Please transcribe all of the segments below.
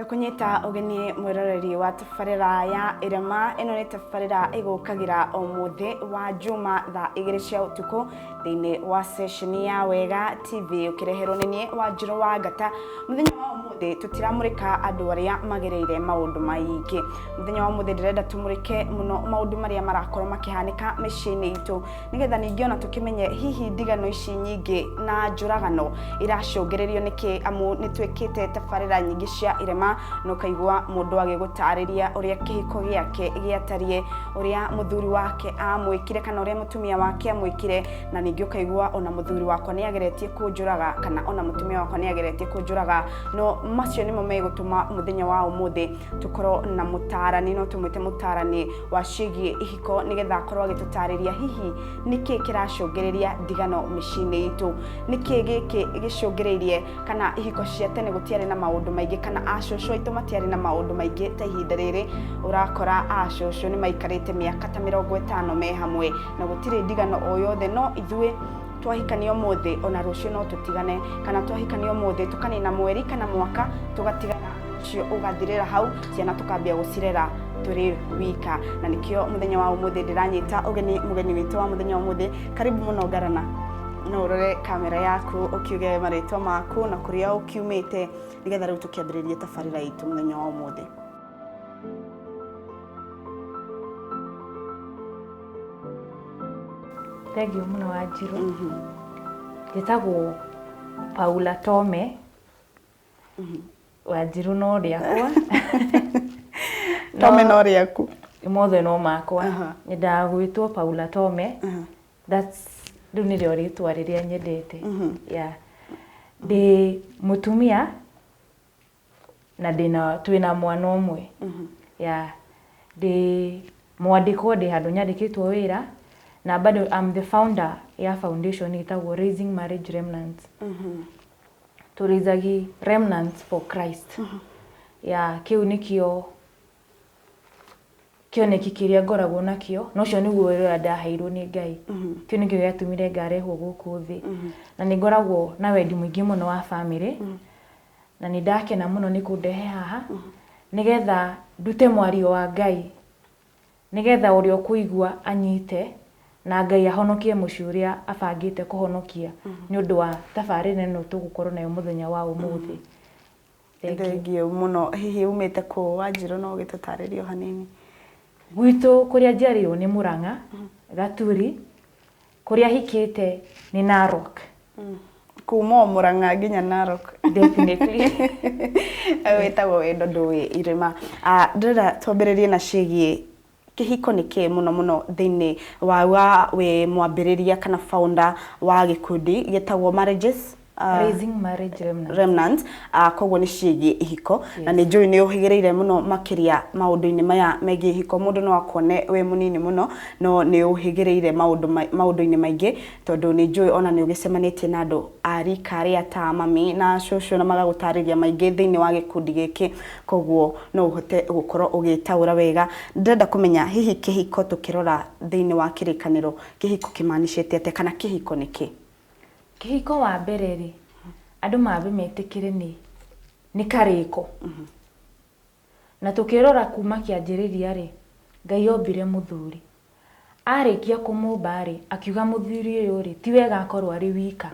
kunyita ugeni mwiroreri wa tabarira ya irema ino ni tabarira igukagira o muthi wa juma tha igiri cia utuku thiini wa seshini ya wega tv ukireherwo ni nie wa njiro wa ngata muthenya wa umuthi tutiramurika andu aria magereire maundu maingi muthenya wa umuthi ndirenda tumurike muno maundu maria marakorwo makihanika miciini itu nĩgetha ningĩ ona tũkĩmenye hihi ndigano ici nyingĩ na njũragano iracũngĩrĩrio nĩkĩ amu nĩ twĩkĩte tabarĩra nyingĩ cia irema na ũkaigua mũndũ agĩgũtarĩria ũrĩa kĩhiko gĩake gĩatariĩ ũrĩa mũthuri wake amwĩkire kana ũrĩa mũtumia wake amwĩkire na ningĩ ũkaigua ona mũthuri wakwa nĩ ageretie kũnjũraga kana ona mũtumia wakwa nĩ ageretie kũnjũraga no macio nĩmo megũtũma mũthenya wa ũmũthĩ tũkorwo na mũtarani no tũmwĩte mũtarani wa ciĩgiĩ ihiko nĩgetha akorwo agĩtũtarĩria hihi nĩkĩ kĩracũngĩrĩria ndigano mĩciĩ-inĩ itũ nĩkĩ gĩkĩ gĩcũngĩrĩirie kana ihiko cia tene gũtiarĩ na maũndũ maingĩ kana acũcũ aitũ matiarĩ na maũndũ maingĩ ta ihinda rĩrĩ ũrakora acũcũ nĩ maikarĩte mĩaka ta mĩrongo ĩtano me hamwe na gũtirĩ ndigano o yothe no ithuĩ twahikania ũmũthĩ ona rũciũ no tũtigane kana twahikania ũmũthĩ tũkanina mweri kana mwaka tũgatigana ũcio ũgathirĩra hau ciana tũkambia gũcirera tũrĩ wika na nĩkĩo mũthenya wa ũmũthĩ ndĩranyita ũgeni mũgeni witũ wa mũthenya wa ũmũthĩ karibu mũno ngarana no ũrore kamera yaku ũkiuge marĩtwa maku na kũrĩa ũkiumĩte nĩgetha rĩu tũkĩambĩrĩrie tabarĩra itũ mũthenya wa ũmũthĩ Thengiũ mũno wa njirũ. Njĩtagwo Paula Tome. Wa njirũ no rĩakwa. Tome no rĩaku. Mothe no makwa. Aha. Nyendaga gwĩtwo Paula Tome. That's rĩu nĩrĩo rĩtwa rĩrĩa nyendete. Yeah. Ndĩ mũtumia na ndĩna twĩna mwana ũmwe yeah. ndĩ mwandĩkwo ndĩ handũ nyandĩkĩtwo wĩra na bado I'm the founder ya foundation ĩtagwo Raising Marriage Remnants tũrĩithagi remnants for Christ yeah, kĩu nĩkĩo kĩoneki kĩrĩa ngoragwo nakĩo na ũcio nĩguo wĩra ũrĩa ndaheirwo nĩ ngai kĩu nĩkĩo gĩatũmire ngarehwo gũkũ thĩ na nĩ ngoragwo na wendi mũingĩ mũno wa bamĩrĩ na nĩ ndakena mũno nĩ kũndehe haha nĩ getha ndute mwario wa Ngai nĩ getha ũrĩa ũkũigua anyite na Ngai ahonokie mũciĩ ũrĩa abangĩte kũhonokia nĩ ũndũ wa tabarĩra ĩno tũgũkorwo nayo mũthenya wa ũmũthĩ. Thengiũ mũno. Hihi umĩte kũ Wanjirũ no ũgĩtũtarĩrie o hanini? Gwitũ kũrĩa njiarĩirwo nĩ Mũrang'a, Gaturi. Kũrĩa hikĩte nĩ Narok. Kuma o Mũrang'a nginya Narok. Definitely. Ũyũ wĩtagwo wendo ndũĩ irĩma. Ah, Ndĩrenda twambĩrĩrie na ciĩgiĩ kĩhiko nĩ kĩĩ mũno mũno thĩinĩ wa wa wĩ mwambĩrĩria kana founder wa gĩkundi gĩtagwo Marriages Ah. raising marriage remnant remnant uh, koguo nĩ ciĩgiĩ ihiko yes. na nĩ njũĩ nĩ ũhĩgĩrĩire mũno makĩria maũndũ-inĩ maya megiĩ ihiko mũndũ no akone wĩ mũnini mũno no nĩ ũhĩgĩrĩire maũndũ-inĩ maingĩ tondũ nĩ njũĩ ona nĩ ũgĩcemanĩtie na andũ a rika rĩa ta mami na cũcũ na magagũtarĩria maingĩ thĩinĩ wa gĩkundi gĩkĩ koguo no ũhote gũkorwo ũgĩtaũra wega ndĩrenda kũmenya hihi kĩhiko tũkĩrora thĩinĩ wa kĩrĩkanĩro kĩhiko kĩmanicĩte atĩa kana kĩhiko nĩ kĩ Kĩhiko wa mbere rĩ, andũ mambe metĩkĩre nĩ nĩ karĩko. Na tũkĩrora kuma kĩanjĩrĩria rĩ, Ngai ombire mũthuri. Arĩkia kũmũmba rĩ, akiuga mũthuri ũyũ rĩ, ti wega akorwo arĩ wika.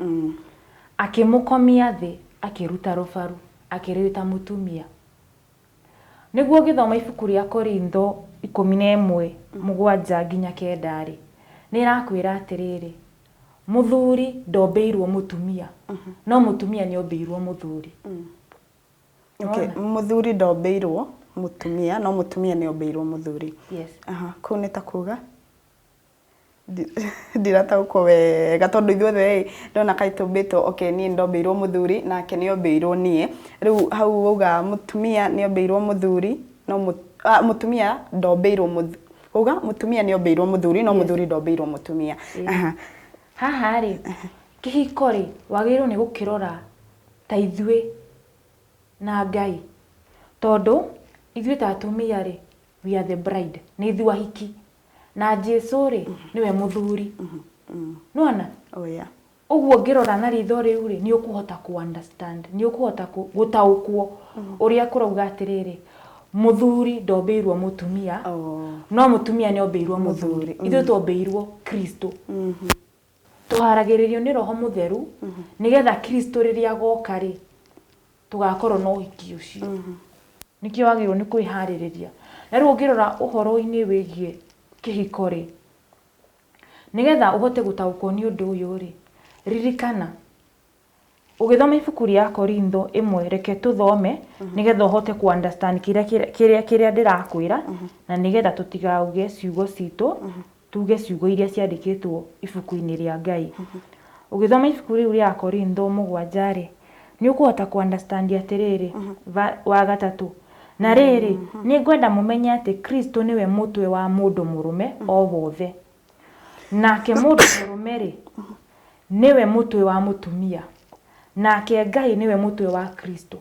Akĩmũkomia thĩ, akĩruta rũbaru, akĩrĩruta mũtumia. Nĩguo ũngĩthoma ibuku rĩa Korintho ikũmi na ĩmwe, mũgwanja nginya kenda-rĩ, nĩ ĩrakwĩra atĩrĩrĩ, mũthuri ndombĩirwo mũtumia, no mũtumia nĩ ombĩirwo mũthuri. Okay, mũthuri ndombĩirwo mũtumia, no mũtumia nĩ ombĩirwo mũthuri. Yes. Aha, kũu nĩ ta kuga? Ndirataũkwo wega tondũ ithuothe ĩĩ ndĩrona kaĩ tũmbĩtwo, okay niĩ nĩ ndombĩirwo mũthuri nake nĩ ombĩirwo niĩ, rĩu hau wauga mũtumia nĩ ombĩirwo mũthuri, no mũtumia ndombĩirwo mũthuri, wauga mũtumia nĩ ombĩirwo mũthuri no mũthuri ndombĩirwo mũtumia. Haha rĩ, kĩhiko rĩ, wagĩrĩirwo nĩ gũkĩrora ta ithuĩ na Ngai, tondũ ithuĩ ta atumia rĩ, we are the bride, nĩ ithuĩ ahiki. na jesu rĩ nĩwe mũthuri nona Oh, yeah. ũguo ngĩrora na ritho rĩu rĩ nĩ ũkũhota ku understand nĩ ũkũhota kũ- gũtaũkwo ũrĩa kũrauga atĩrĩrĩ mũthuri ndombĩirwo mũtumia Oh. no mũtumia nĩ ombĩirwo mũthuri Mũthuri, ithuĩ twombĩirwo kristo Tũharagĩrĩrio nĩ Roho Mũtheru nĩgetha Kristo rĩrĩa agoka-rĩ, tũgakorwo na ũhiki ũcio. Nĩkĩo wagĩrĩirwo nĩ kwĩharĩrĩria. Na rĩu ũngĩrora ũhoro-inĩ wĩgiĩ kĩhiko-rĩ, nĩgetha ũhote gũtaũkwo nĩ ũndũ ũyũ-rĩ, ririkana. Ũgĩthoma ibuku rĩa Korintho ĩmwe reke tũthome nĩgetha ũhote ku understand kĩrĩa kĩrĩa- kĩrĩa kĩrĩa ndĩrakwĩra na nĩgetha tũtigauge ciugo citũ tuge ciugo iria ciandĩkĩtwo ibuku-inĩ rĩa Ngai. Ũgĩthoma ibuku rĩu rĩa Akorintho mũgwanja rĩ, nĩ ũkũhota ku understand atĩrĩrĩ, va- wa gatatũ, na rĩrĩ, nĩ ngwenda mũmenye atĩ Kristo nĩwe mũtwe wa mũndũ mũrũme o wothe. Nake mũndũ mũrũme-rĩ, nĩwe mũtwe wa mũtumia, nake Ngai nĩwe mũtwe wa Kristo.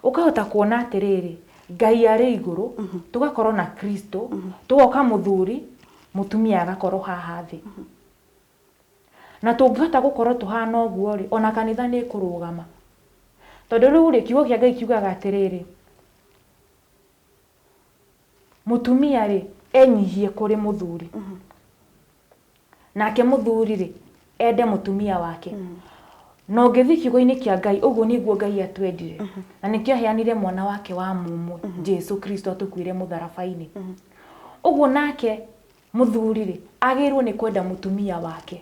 Ũkahota kuona atĩrĩrĩ, Ngai arĩ igũrũ, tũgakorwo na Kristo, tũgoka mũthuri, mũtumia agakorwo haha thĩ. Na tũngĩhota gũkorwo tũhana ũguo-rĩ, ona kanitha nĩ ĩkũrũgama. Tondũ rĩu-rĩ, kiugo kĩa Ngai kiugaga atĩrĩrĩ, mũtumia rĩ enyihie kũrĩ mũthuri nake mũthuri rĩ ende mũtumia wake na ũngĩthiĩ kiugo-inĩ kĩa ngai ũguo nĩguo ngai atwendire na nĩkĩo aheanire mwana wake wa mũmwe jesu kristo atũkuĩre mũtharaba-inĩ ũguo nake mũthuri rĩ agĩrĩirwo nĩ kwenda mũtumia wake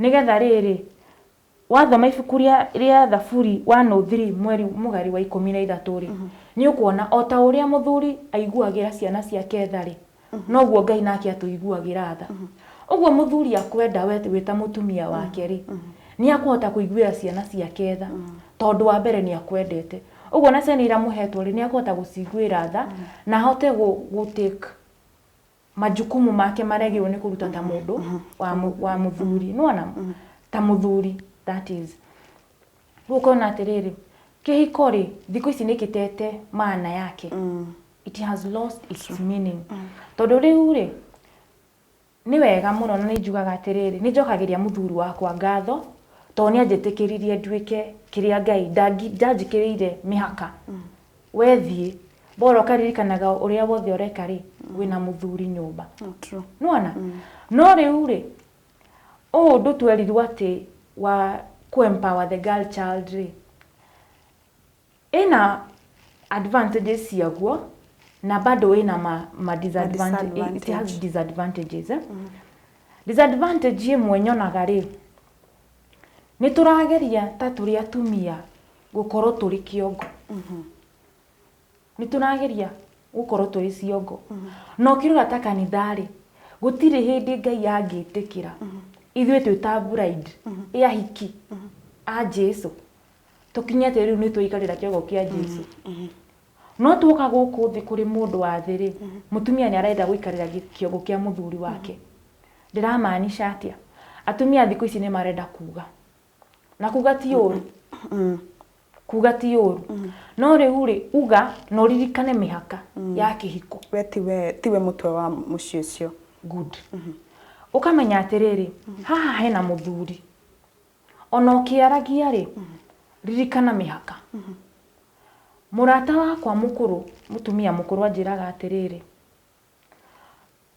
nĩgetha rĩrĩ wathoma ibuku rĩa rĩa Thaburi 103 mweri mũgari wa ikũmi na ithatũ rĩ, nĩ ũkuona o ta ũrĩa mũthuri aiguagĩra ciana ciake tha rĩ, noguo Ngai nake atũiguagĩra tha. Ũguo mũthuri akwenda we wĩ ta mũtumia wake rĩ, nĩ akũhota kũiguĩra ciana ciake tha, tondũ wa mbere nĩ akwendete. Ũguo ona ciana iria amũhetwo rĩ, nĩ akũhota gũciguĩra tha, na ahote gũ gũ take majukumu make marĩa agĩrĩirwo nĩ kũruta ta mũndũ wa mũ- wa mũthuri nĩwona ta mũthuri that is rĩu ũkona atĩrĩrĩ kĩhiko rĩ thikũ ici nĩ kĩtete maana yake it has lost its meaning tondũ rĩu rĩ nĩ wega mũno na nĩ njugaga atĩrĩrĩ nĩ njokagĩria mũthuri wakwa ngatho tondũ nĩ anjĩtĩkĩririe nduĩke kĩrĩa ngai ndangi- ndanjĩkĩrĩire mĩhaka We thiĩ, bora ũkaririkanaga ũrĩa wothe ũreka-rĩ, wĩna mũthuri nyũmba. True. Nĩwona? No rĩu-rĩ, ũũ ũndũ twerirwo atĩ wa kũ-empower the girl child-rĩ, ĩna advantages ciaguo, na bado ĩna ma, ma disadvantage, it has disadvantage. disadvantages eh? Disadvantage ĩmwe nyonaga-rĩ, nĩtũrageria ta tũrĩ atumia gũkorwo tũrĩ kĩongo nĩ tũrageria gũkorwo tũrĩ ciongo na ũkĩrora ta kanitha-rĩ gũtirĩ hĩndĩ ngai angĩtĩkĩra ithuĩ twĩ ta bride ya hiki a jesu tũkinye atĩ rĩu nĩ twaikarĩra kĩongo kĩa jesu no tuoka gũkũ thĩ kũrĩ mũndũ wa thĩ-rĩ mũtumia nĩ arenda gũikarĩra gĩ- kĩongo kĩa mũthuri wake ndĩramaanisha atĩa atumia thikũ ici nĩ marenda kuga na kuga ti ũru Mm. kuga ti ũru no rĩu rĩ uga na ũririkane mĩhaka ya kĩhiko we tiwe tiwe mũtwe wa mũciĩ ũcio good ũkamenya atĩrĩrĩ haha hena mũthuri ona ũkĩaragia rĩ ririkana mĩhaka mũrata wakwa mũkũrũ mũtumia mũkũrũ anjĩraga atĩrĩrĩ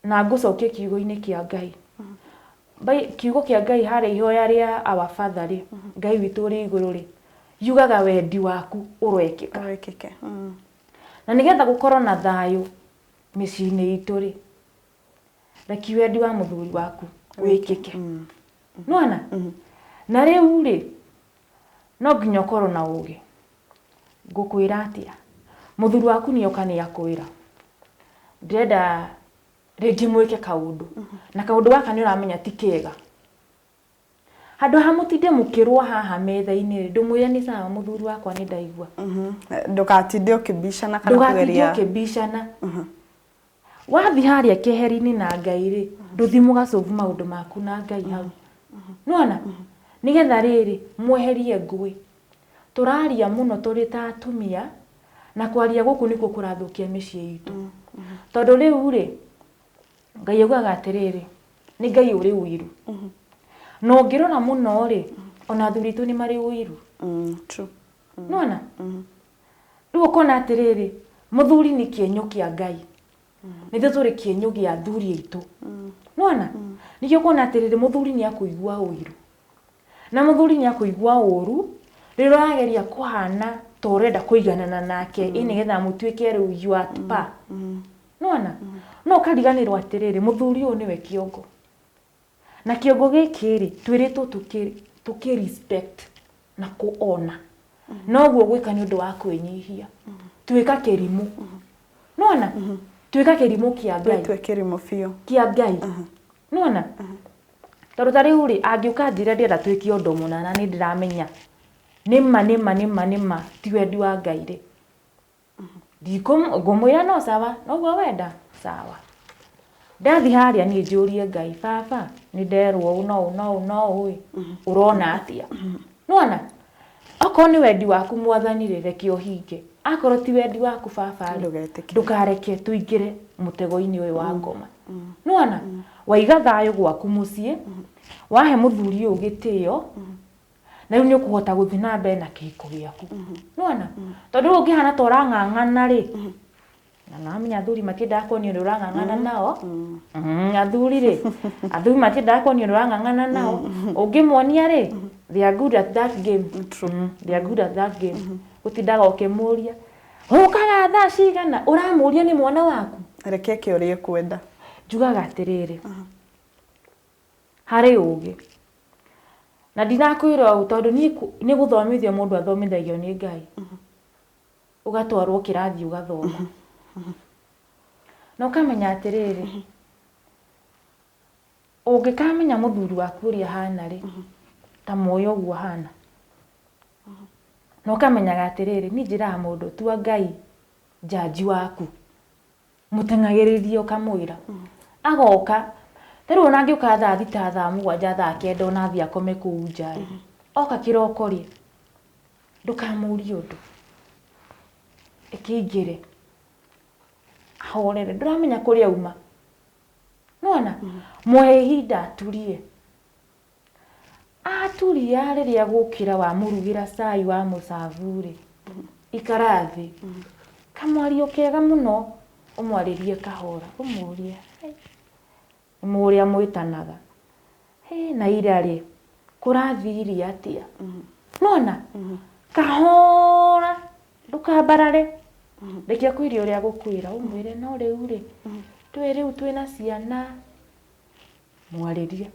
Na ngũcokie kiugo-inĩ kĩa Ngai. Bai- Kiugo kĩa Ngai harĩa ihoya rĩa our father rĩ, Ngai witũ ũrĩ igũrũ rĩ, yugaga wendi waku ũroĩkĩka. Wĩkĩke. Mm. Na nĩgetha gũkorwo na thayũ mĩciĩ-inĩ itũ rĩ, reki wendi wa mũthuri waku wĩkĩke. Nĩwona? Na rĩu rĩ, no nginya ũkorwo na ũgĩ. Ngũkwĩra atĩa? Mũthuri waku nĩ oka nĩ akwĩra. Ndĩrenda rĩngĩ mwĩke kaũndũ. Na kaũndũ gaka nĩ ũramenya ti kega. Handũ ha mũtinde mũkĩrũa haha metha-inĩ rĩ, ndũmwĩre nĩ sawa mũthuri wakwa nĩ ndaigua. Ndũgatinde ũkĩbicana kana kũgeria. Ndũgatinde ũkĩbicana. wathiĩ harĩa keheri-inĩ na ngai-rĩ ndũthiĩ mũgacũvu maũndũ maku na ngai hau nĩwona nĩgetha rĩrĩ mweherie ngũĩ tũraria mũno tũrĩ ta atumia na kwaria gũkũ nĩkuo kũrathũkia mĩciĩ itũ tondũ rĩu-rĩ ngai augaga atĩrĩrĩ nĩ ngai ũrĩ ũiru na ũngĩrora mũno-rĩ ona athuri aitũ nĩ marĩ ũiru nĩwona Rĩu ũkona atĩrĩrĩ, mũthuri nĩ kĩenyũ kĩa Ngai. Nĩ ithuĩ tũrĩ kĩenyũ gĩa athuri aitũ. Nĩwona? Ningĩ ũkona atĩrĩrĩ, mũthuri nĩ akũigua ũiru. Na mũthuri nĩ akũigua ũũru, rĩrĩa ũrageria kũhana ta ũrenda kũiganana nake, ĩ nĩgetha mũtuĩke rĩu you are at par. Nĩwona? No ũkariganĩrwo atĩrĩrĩ, mũthuri ũyũ nĩwe kĩongo. Na kĩongo gĩkĩ-rĩ, twĩrĩtwo tũkĩ, tũkĩ respect na kũ honour. No ũguo gwĩka nĩ ũndũ wa kwĩnyihia. Twĩka kĩrimũ. Nĩwona? Twĩka kĩrimũ kĩa Ngai. Wĩtue kĩrimũ biũ. Kĩa Ngai. Nĩwona? Tondũ ta rĩu-rĩ, angĩũka anjĩre ndĩrenda twĩke ũndũ mũna na nĩndĩramenya nĩma nĩma nĩma nĩma ti wendi wa Ngai-rĩ. ndikũm- ngũmwĩra no sawa noguo wenda sawa ndathi harĩa niĩ njũrie ngai baba nĩ nderwo ũũ no ũũ no ũũ no ũũ ĩ ũrona atĩa nona okorwo nĩ wendi waku mwathani rĩ reke ũhinge akorwo ti wendi waku baba rĩ Ndũgetĩkĩre. ndũkareke tũingĩre mũtego-inĩ ũyũ wa ngoma nona waiga thayũ gwaku mũciĩ wahe mũthuri ũyũ gĩtĩo na rĩu nĩ ũkũhota gũthiĩ na mbere na kĩhiko gĩaku nĩwona tondũ rĩu ũngĩhana ta ũrang'ang'ana rĩ na namenya athuri matiendaga kuonio nĩ ũrang'ang'ana nao Mm, athuri rĩ athuri matiendaga kuonio nĩ ũrang'ang'ana nao ũngĩmonia rĩ they are good at that game Mm, they are good at that game gũtindaga ũkĩmũria ũkaga thaa cigana ũramũria nĩ mwana waku reke eke ũrĩa ekwenda njugaga atĩrĩrĩ harĩ ũũgĩ. Na ndinakwĩra ũũ tondũ niĩ nĩ gũthomithio mũndũ athomithagio nĩ Ngai. Ũgatwarwo kĩrathi ũgathoma. Na ũkamenya atĩrĩrĩ, ũngĩkamenya mũthuri waku ũrĩa ahana rĩ, ta mũĩ ũguo ahana. Na ũkamenyaga atĩrĩrĩ, niĩ njĩraga mũndũ tua Ngai njanji waku. mũteng'agĩrĩrie ũkamwĩra agoka ta rĩu ona angĩũka thaa thita thaa mũgwanja thaa kenda ona athiĩ akome kũu nja rĩ oka kĩroko rĩ ndũkamũrie ũndũ ĩkĩingĩre ahorere ndũramenya kũrĩa auma nĩwona mũhe ihinda atulie Aturia rĩrĩa gũkĩra wamũrugĩra cai wa mũcabu-rĩ, ikara thĩ. Kamwario kega mũno ũmwarĩrie kahora ũmũrie, ũrĩa mwĩtanaga, na ira-rĩ, kũrathiire atĩa? Nĩwona? Kahora ndũkambarare, reke akwĩre ũrĩa agũkwĩra, ũmwĩre no rĩu-rĩ, twĩ rĩu twĩna ciana. mwarĩrie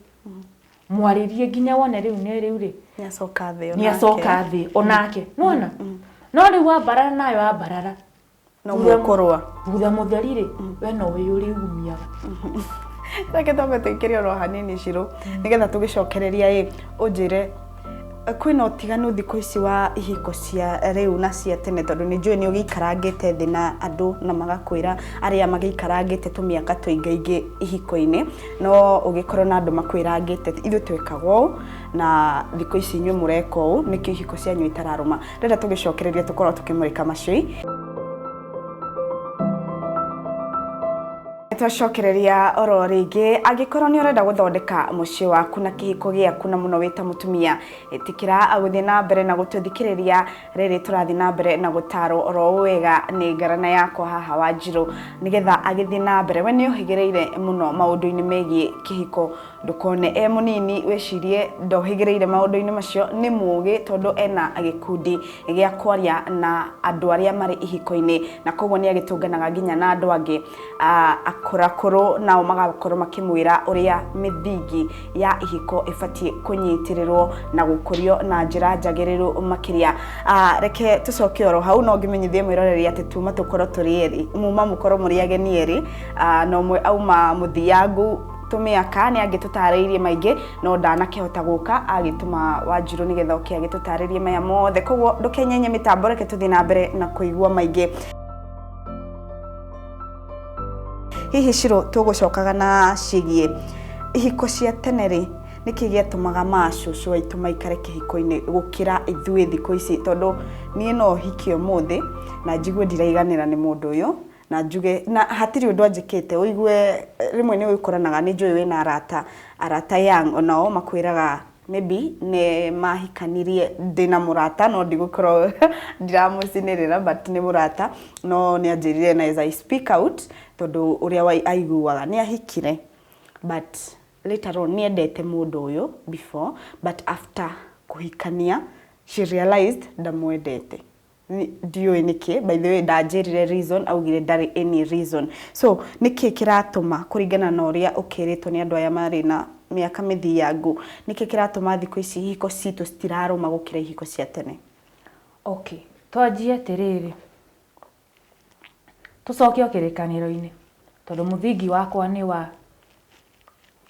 mwarĩrie nginya wone rĩu nĩ rĩu rĩ nĩ acoka thĩ nĩ acoka thĩ onake nona no rĩu ambarara nayo ambarara no gũkorwa thutha mũtheri rĩ we no wĩ ũrĩgumiaga reke twambe tũikĩrie oro hanini cirũ nĩgetha tũgĩcokereria ĩ ũnjĩre kwĩna ũtiganu thikũ ici wa ihiko cia rĩu na cia tene tondũ nĩ njũĩ nĩ ũgĩikarangĩte thĩ na andũ na magakwĩra arĩa magĩikarangĩte tũmĩaka tũingaingĩ ihiko-inĩ no ũgĩkorwo na andũ makwĩrangĩte ithuĩ twĩkaga ũũ na thikũ ici inyuĩ mũreka ũũ nĩkĩo ihiko cianyu itararũma rĩrĩa tũgĩcokereria tũkorwo tũkĩmũrĩka macũi twacokereria oro rĩngĩ angĩkorwo nĩ ũrenda gũthondeka mũciĩ waku na kĩhiko gĩaku na mũno wĩta mũtumia ĩtĩkĩra gũthiĩ na mbere na gũtũthikĩrĩria rĩrĩ tũrathiĩ na mbere na gũtarwo oro wega nĩ ngarana yakwa haha wa njirũ nĩgetha agĩthiĩ na mbere we nĩ ũhĩgĩrĩire mũno maũndũ-inĩ megiĩ kĩhiko Ndũkone e mũnini wĩcirie ndohĩgĩrĩire maũndũ-inĩ macio, nĩ mũũgĩ tondũ ena gĩkundi gĩa kwaria na andũ arĩa marĩ ihiko-inĩ na koguo nĩ agĩtũnganaga nginya na andũ angĩ akũrakũrũ nao magakorwo makĩmwĩra ũrĩa mĩthingi ya ihiko ĩbatiĩ kũnyitĩrĩrwo na gũkũrio na njĩra njagĩrĩru makĩria. Reke tũcoke oro hau no ngĩmenyithie mwĩroreri atĩ tuma tũkorwo tũrĩ erĩ, muma mũkorwo mũrĩ ageni erĩ na ũmwe auma mũthiangu tũmĩaka nĩ angĩtũtarĩirie maingĩ no ndanakĩhota gũka agĩtũma wanjirũ nĩgetha oke agĩtũtarĩrie maya mothe koguo ndũkenyenye mĩtambo reke tũthiĩ na mbere na kũigua maingĩ hihi cirũ tũgũcokaga na cigiĩ ihiko cia tene rĩ nĩkĩ gĩatũmaga macũcũ aitũ maikare kĩhiko-inĩ gũkĩra ithuĩ thikũ ici tondũ niĩ no hiki ũmũthĩ na njigue ndiraiganĩra nĩ mũndũ ũyũ na njuge na hatirĩ ũndũ anjĩkĩte ũigue rĩmwe nĩ ũkoranaga nĩ njũĩ wĩna arata arata young onao makwĩraga maybe nĩ mahikanirie ndĩna mũrata no ndigũkorwo ndiramũcinĩrĩra but nĩ mũrata no nĩ anjĩrire na as I speak out tondũ ũrĩa aiguaga nĩ ahikire but later on nĩ endete mũndũ ũyũ before but after kũhikania she realized ndamwendete. Ndiũĩ nĩkĩ, by the way ndanjĩrire reason, augire ndarĩ any reason. So nĩkĩ kĩratũma kũringana na ũrĩa ũkĩrĩtwo nĩ andũ aya marĩ na mĩaka mĩthiangu, nĩkĩ kĩratũma thikũ ici ihiko citũ citirarũma gũkĩra ihiko cia tene? Okay, twanjie atĩrĩrĩ, tũcoke o kĩrĩkanĩro-inĩ, tondũ mũthingi wakwa nĩ wa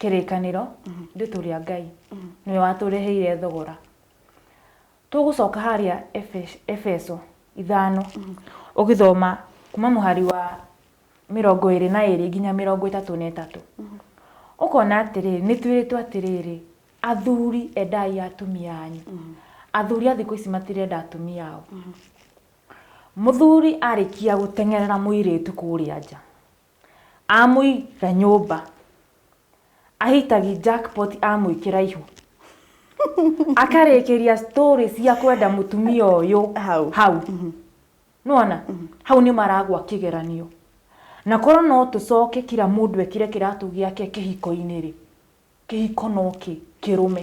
kĩrĩkanĩro, rĩtũ rĩa Ngai, nĩwe watũreheire thogora. Tũgũcoka harĩa Efeso ithano ũgĩthoma kuma mũhari wa mĩrongo ĩrĩ na ĩrĩ nginya mĩrongo ĩtatũ na ĩtatũ ũkona atĩrĩrĩ nĩ twĩrĩtwo atĩrĩrĩ athuri endai atumia anyu athuri a thikũ ici matirenda atumia ao mũthuri arĩkia gũteng'erera mũirĩtu kũrĩa nja Amũiga nyũmba. Ahitagi jackpot amwĩkĩra ihu. Akarĩkĩria story cia kwenda mũtumia ũyũ Hau. hau. Mhm. Nĩwona? Mhm. Hau nĩ maragwa kĩgeranio. Na korwo no tũcoke kira mũndũ ekĩre kĩratũ gĩake kĩhiko-inĩ rĩ, kĩhiko no kĩ, kĩrũme.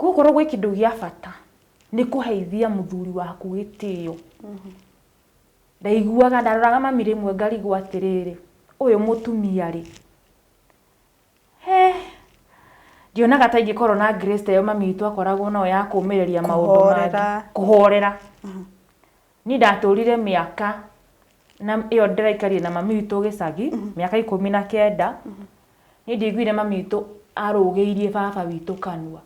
Gũkorwo gwĩ kĩndũ gĩa bata nĩ kũheithia mũthuri waku gĩtĩo. Ndaiguaga, ndaroraga mami rĩmwe ngarigwo atĩrĩrĩ, ũyũ mũtumia rĩ, he, ndionaga ta ingĩkorwo na grace ta ĩyo mami witũ akoragwo nayo ya kũũmĩrĩria maũndũ mangĩ, kũhorera. Niĩ ndatũrire mĩaka na ĩyo ndĩraikarire na mami witũ gĩcagi, mĩaka ikũmi na kenda. Niĩ ndiaiguire mami witũ arũgĩirie baba witũ kanua.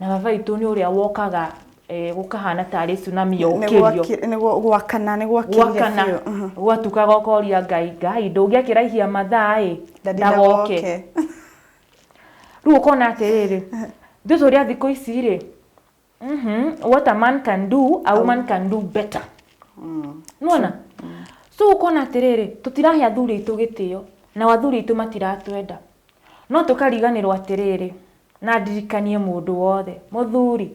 Na baba witũ nĩ ũrĩa wokaga eh, gũkahana tarĩ tsunami yokĩrio. Nĩguo gwakana, nĩ gwakĩire gwakana biũ. Mhm. gwatukaga ũkoria ngai ngai ndũngĩakĩraihia mathaa ĩ Daddy ndagoke ndagoke. rĩu ũkona atĩrĩrĩ ithuĩ tũrĩ a thikũ ici rĩ mm -hmm. what a man can do a woman can do better mm. nona mm. so ukona atiriri tutirahe athuri aitu gitio na athuri aitu matiratwenda no tukariganirwo atiriri na ndirikanie mundu wothe muthuri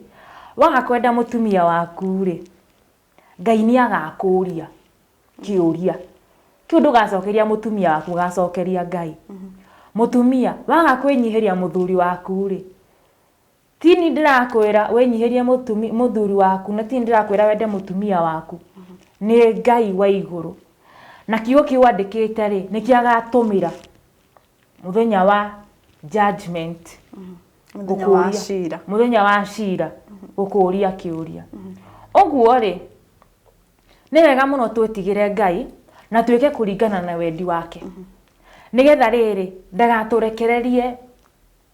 waga kwenda mutumia waku ri ngai ni agakuria kiuria kiu ndugacokeria mutumia waku gacokeria ngai mm-hmm. mutumia waga kwinyihiria muthuri waku ri Tini ndĩrakwĩra wĩnyihĩrie mũtumi, mũthuri waku na tini ndĩrakwĩra wende mũtumia waku nĩ ngai wa igũrũ na kiugo kĩu andĩkĩte rĩ nĩkĩo agatũmĩra mũthenya wa judgment Mũthenya wa gũkũũria- cira. mũthenya wa cira gũkũũria kĩũria ũguo rĩ nĩ wega mũno twĩtigĩre ngai na twĩke kũringana na wendi wake nĩgetha rĩrĩ ndagatũrekererie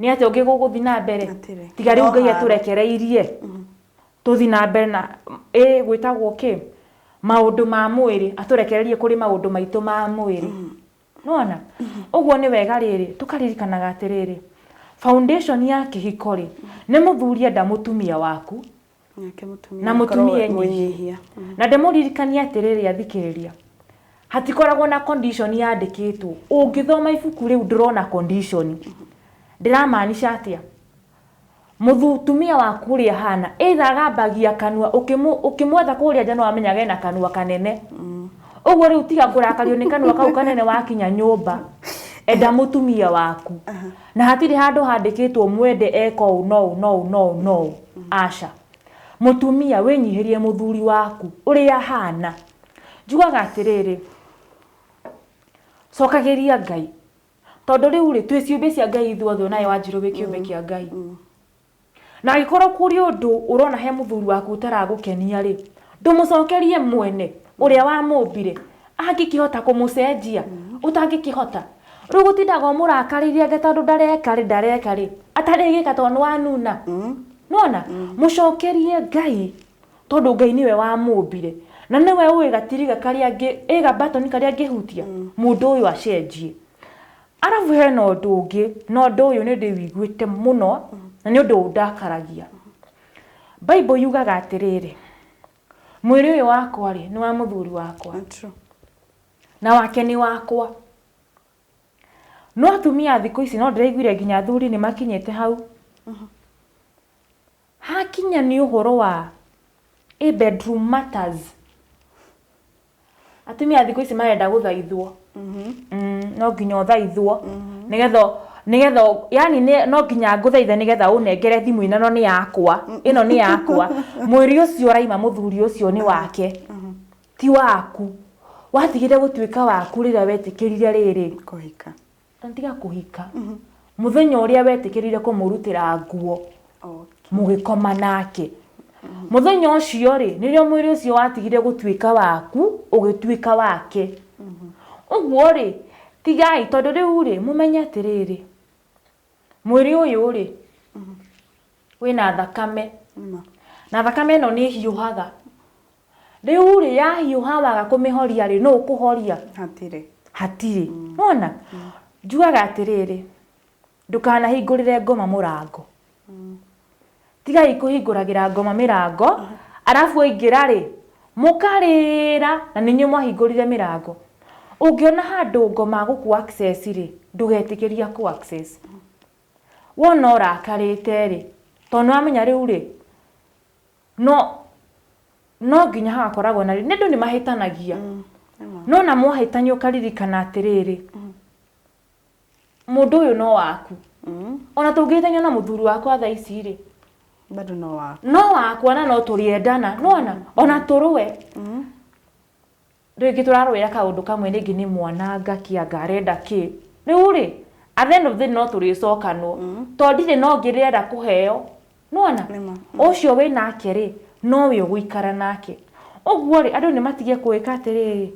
nĩ atĩa ũngĩ gũgũthi na mbere Hatirĩ. tiga rĩu No ngai haro. atũrekereirie tũthi na mbere na ĩ gwĩtagwo kĩ maũndũ ma mwĩrĩ atũrekererie kũrĩ maũndũ maitũ ma mwĩrĩ nona ũguo nĩ wega rĩrĩ tũkaririkanaga atĩrĩrĩ foundation ya kĩhiko rĩ nĩ mũthuri enda mũtumia waku na mũtumia enyihia mm. na ndĩmũririkania atĩrĩrĩ athikĩrĩria hatikoragwo na condition yandĩkĩtwo ũngĩthoma ibuku rĩu ndĩrona condition ndĩramaanisha atĩa mũtumia waku ũrĩa hana either agambagia kanua ũkĩmwetha kũrĩa nja no amenyaga ena kanua kanene mm. ũguo rĩu tiga kũrakario nĩ kanua kau kanene wakinya nyũmba enda mũtumia waku uh -huh Na hatirĩ handũ handĩkĩtwo mwende eka ũũ na ũũ na ũũ na ũũ na ũũ. Aca. Mũtumia, wĩnyihĩrie mũthuri waku ũrĩa ahana. Njugaga atĩrĩrĩ, cokagĩria Ngai. Tondũ rĩu-rĩ, twĩ ciũmbe cia Ngai ithuothe, o nawe Wanjirũ wĩ kĩũmbe kĩa Ngai. Na angĩkorwo kũrĩ ũndũ ũrona he mũthuri waku ũtaragũkenia-rĩ, ndũmũcokerie mwene ũrĩa wamũmbire, angĩkĩhota kũmũcenjia, ũtangĩkĩhota. Rĩu gũtindaga ũmũrakarĩire anga tondũ ndareka-rĩ, ndareka-rĩ, atarĩgĩka tondũ nĩwanuna. Nĩwona? Mũcokerie Ngai tondũ Ngai nĩwe wamũmbire, na nĩwe ũĩ gatiriga karĩa angĩ, ĩ ga button karĩa angĩhutia, mũndũ ũyũ acenjie. Arabu hena ũndũ ũngĩ na ũndũ ũyũ nĩ ndĩwiguĩte mũno na nĩ ũndũ ũndakaragia. Bible yugaga atĩrĩrĩ, mwĩrĩ ũyũ wakwa rĩ nĩ wa mũthuri wakwa na wake nĩ wakwa. No atumia thikũ ici no ndĩraiguire nginya athuri nĩ makinyĩte hau. Hakinya nĩ ũhoro wa ĩ bedroom matters, atumia thikũ ici marenda gũthaithwo. Mm, no nginya ũthaithwo nĩgetha nĩgetha yani nĩ- no nginya ngũthaithe nĩgetha ũnengere thimũ ĩno ĩno nĩ yakwa ĩno nĩ yakwa mwĩrĩ ũcio ũraima mũthuri ũcio nĩ wake ti waku watigire gũtuĩka waku rĩrĩa wetĩkĩrire rĩrĩ Kũhika. Tiga kũhika. Mũthenya ũrĩa wetĩkĩrire kũmũrutĩra nguo mũgĩkoma nake. Mũthenya ũcio rĩ, nĩrĩo mwĩrĩ ũcio watigire gũtuĩka waku, ũgĩtuĩka wake. Ũguo rĩ, tigai, tondũ rĩu rĩ, mũmenye atĩrĩrĩ, mwĩrĩ ũyũ rĩ, wĩna thakame. Na thakame ĩno nĩ ĩhiũhaga. Rĩu-rĩ, yahiũha waga kũmĩhoria-rĩ, nũ ũkũhoria? Hatirĩ. Hatirĩ. Nĩwona? Njugaga atĩrĩrĩ, ndũkanahingũrĩre ngoma mũrango. Tigai kũhingũragĩra ngoma mĩrango, arabu waingĩra-rĩ, mũkarĩra na nĩ inyuĩ mwahingũrire mĩrango. Ũngĩona handũ ngoma gũkũ access-rĩ, ndũgetĩkĩrie akũ access. Wona ũrakarĩte-rĩ, tondũ nĩwamenya rĩu-rĩ, No no nginya hagakoragwo na rĩrĩ nĩ andũ nĩ mahĩtanagia no na mwahĩtania ũkaririkana atĩrĩrĩ mũndũ ũyũ no waku ona tũngĩhĩtania na mũthuri wakwa thaa ici rĩ bado no waku no wakwa na no tũrĩendana nona ona tũrũe Rĩngĩ tũrarũĩra kaũndũ kamwe rĩngĩ nĩ mwananga kĩanga arenda kĩ. Rĩu rĩ, at the end of the day no tũrĩcokanwo. To ndirĩ na ũngĩ ndĩrenda kũheo. Nĩwona? Ũcio wĩ nake rĩ, nowe ũgũikara nake. Ũguo rĩ, andũ nĩ matige gwĩka atĩrĩrĩ,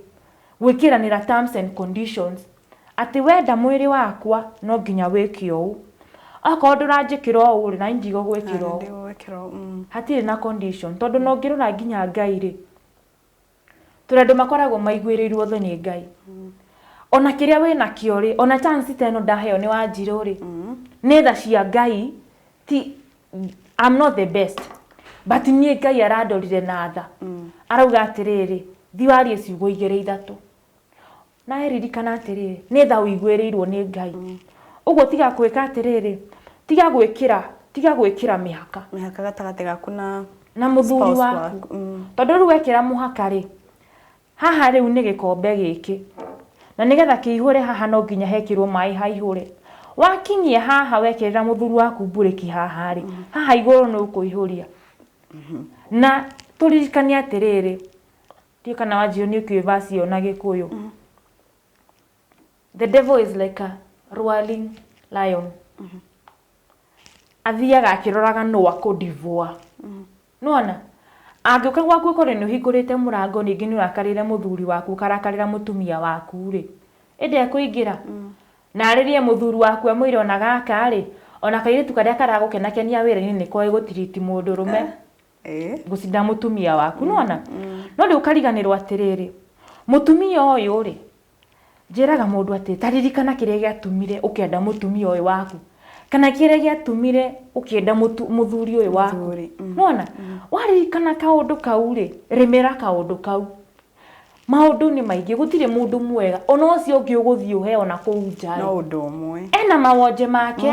gwĩkĩranĩra terms and conditions. Atĩ wenda mwĩrĩ wakwa, no nginya wĩke ũũ. Okorwo ndũranjĩkĩra ũũ rĩ, naniĩ ndigũgwĩkĩra ũũ. Hatirĩ na condition. Tondũ ona ũngĩrora nginya Ngai rĩ. Tũrĩ andũ makoragwo maiguĩrĩirwo tho nĩ Ngai. Ona kĩrĩa wĩ nakĩo rĩ, ona chance ta ĩno ndaheo nĩ Wanjirũ rĩ, nĩ tha cia Ngai, ti I'm not the best but niĩ Ngai arandorire na tha. Arauga atĩrĩrĩ, thiĩ warie ciugo igĩrĩ ithatũ. Nawe ririkana atĩrĩrĩ, nĩ tha ũiguĩrĩirwo nĩ Ngai. Mm. Ũguo tiga gwĩka atĩrĩrĩ, tiga gwĩkĩra, tiga gwĩkĩra mĩhaka. Mĩhaka gatagatĩ gaku na na mũthuri waku. Mm. Tondũ rĩu wekĩra mũhaka rĩ, haha rĩu nĩ gĩkombe gĩkĩ. Na nĩgetha kĩihũre haha no nginya hekĩrwo maĩ haihũre. Wakinyia haha wekĩrĩra mũthuri waku mburĩki haha rĩ, mm. haha igũrũ nĩ ũkũihũria. Mm-hmm. Na tũririkane atĩrĩrĩ, Ndiũĩ kana wanjio nĩ ũkĩũĩ verse ĩyo na gĩkũyũ. The devil is like a roaring lion. Athiaga akĩroraga nũ akũdivũa. Nĩwona? Angĩũka gwaku ũkore nĩ ũhingũrĩte mũrango ningĩ nĩ ũrakarĩire mũthuri waku ũkarakarĩra mũtumia waku-rĩ, ĩ ndekũingĩra? Na arĩrie mũthuri waku amwĩre ona gaka-rĩ, ona kairĩtu karĩa karagũkenakenia wĩra-inĩ nĩ koĩ gũtiriti mũndũrũme. Eh. gũcinda mũtumia waku nona no rĩu ũkariganĩrwo atĩrĩrĩ mũtumia ũyũ rĩ njĩraga mũndũ atĩ taririkana kĩrĩa gĩatumire ũkĩenda mũtumia ũyũ waku kana kĩrĩa gĩatumire ũkĩenda mũtu- mũthuri ũyũ waku Mũthuri, mm. nona waririkana kaũndũ kau rĩ rĩmĩra kaũndũ kau maũndũ nĩ maingĩ gũtirĩ mũndũ mwega ona ũcio ũngĩ ũgũthiĩ ũheo na kũu nja rĩ, no ũndũ ũmwe ena mawonje make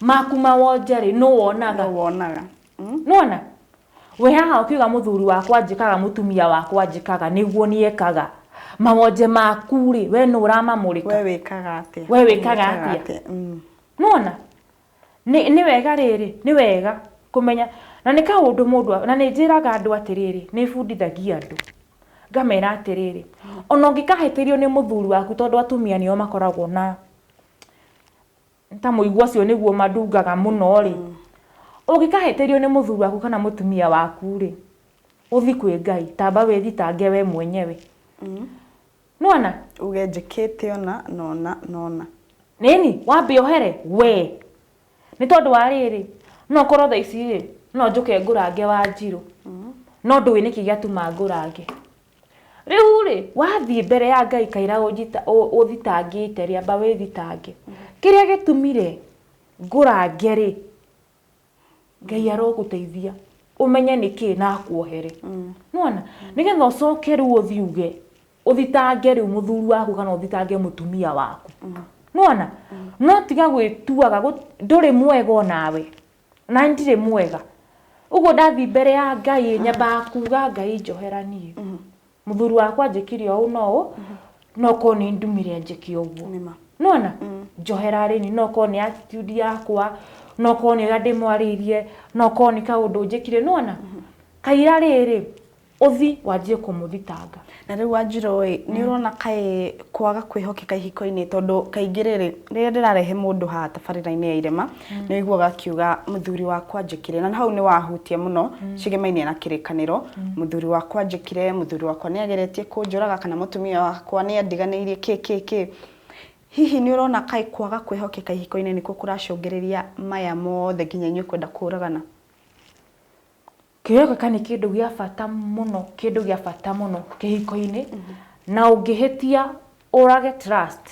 maku ma wonje rĩ nũ wonaga nũ wonaga mm? nona we haha ũkiuga mũthuri wakwa njĩkaga mũtumia wakwa njĩkaga nĩguo niekaga mawonje maku rĩ we nũ ũramamũrĩka we wĩkaga atĩa we wĩkaga atĩa mm. nona nĩ wega rĩrĩ nĩ wega kũmenya na nĩ kaũndũ mũndũ na nĩ njĩraga andũ atĩrĩrĩ nĩ bundithagia andũ ngamera atĩrĩrĩ ona ũngĩkahĩtĩrio nĩ mũthuri waku tondũ atumia nĩo makoragwo na ta mũigua ũcio nĩguo mandungaga mũno-rĩ, ũngĩkahĩtĩrio nĩ mũthuri waku kana mũtumia waku-rĩ, ũthiĩ kwĩ Ngai, tamba wĩthitange we mwenyewe. Nĩwona? Uge njĩkĩte ũna na ũna na ũna. Ĩni, wambe ũhere we. Nĩ tondũ wa rĩrĩ, no ũkorwo thaa ici-rĩ, no njũke ngũrange Wanjirũ, no ndũĩ nĩkĩ gĩatũma ngũrange. Rĩu-rĩ, wathiĩ mbere ya Ngai kaira ũthitangĩte rĩ, amba wĩthitange. Kĩrĩa gĩtumi-rĩ, ngũrange-rĩ, Ngai arogũteithia ũmenye nĩkĩĩ na akuohere. Nĩwona? Nĩgetha ũcoke rĩu ũthiĩ uge, ũthitange rĩu mũthuri waku kana ũthitange mũtumia waku. Nĩwona? No tiga gwĩtuaga ndũrĩ mwega o nawe. na ndirĩ mwega ũguo ndathiĩ mbere ya ngai nyambaga kuga ngai njohera niĩ mũthuri wakwa njĩkire ũũ na ũũ no korwo nĩ ndumire njĩke ũguo Nĩma. nona njohera rĩni no korwo nĩ attitude yakwa no korwo nĩ ũrĩa ndĩmwarĩirie no korwo nĩ kaũndũ njĩkire nona kaira rĩrĩ Ũthi wanjie kũmũthitanga. Na rĩu Wanjirũ-ĩ, nĩũrona kaĩ kwaga kwĩhokeka ihiko-inĩ tondũ kaingĩ rĩrĩ, rĩrĩa ndĩrarehe mũndũ haha tabarĩra-inĩ ya irema, nĩwĩiguaga akiuga mũthuri wakwa anjĩkire, na hau nĩwahutia mũno cigemainie na kĩrĩkanĩro, mũthuri wakwa anjĩkire, mũthuri wakwa nĩageretie kũnjũraga, kana mũtumia wakwa nĩandiganĩirie kĩ kĩ kĩ. Hihi nĩũrona kaĩ kwaga kwĩhokeka ihiko-inĩ nĩkuo kũracũngĩrĩria maya mothe nginya inyuĩ kwenda kũragana? Kĩheo gĩka nĩ kĩndũ gĩa bata mũno, kĩndũ gĩa bata mũno kĩhiko-inĩ, na ũngĩhĩtia ũrage trust,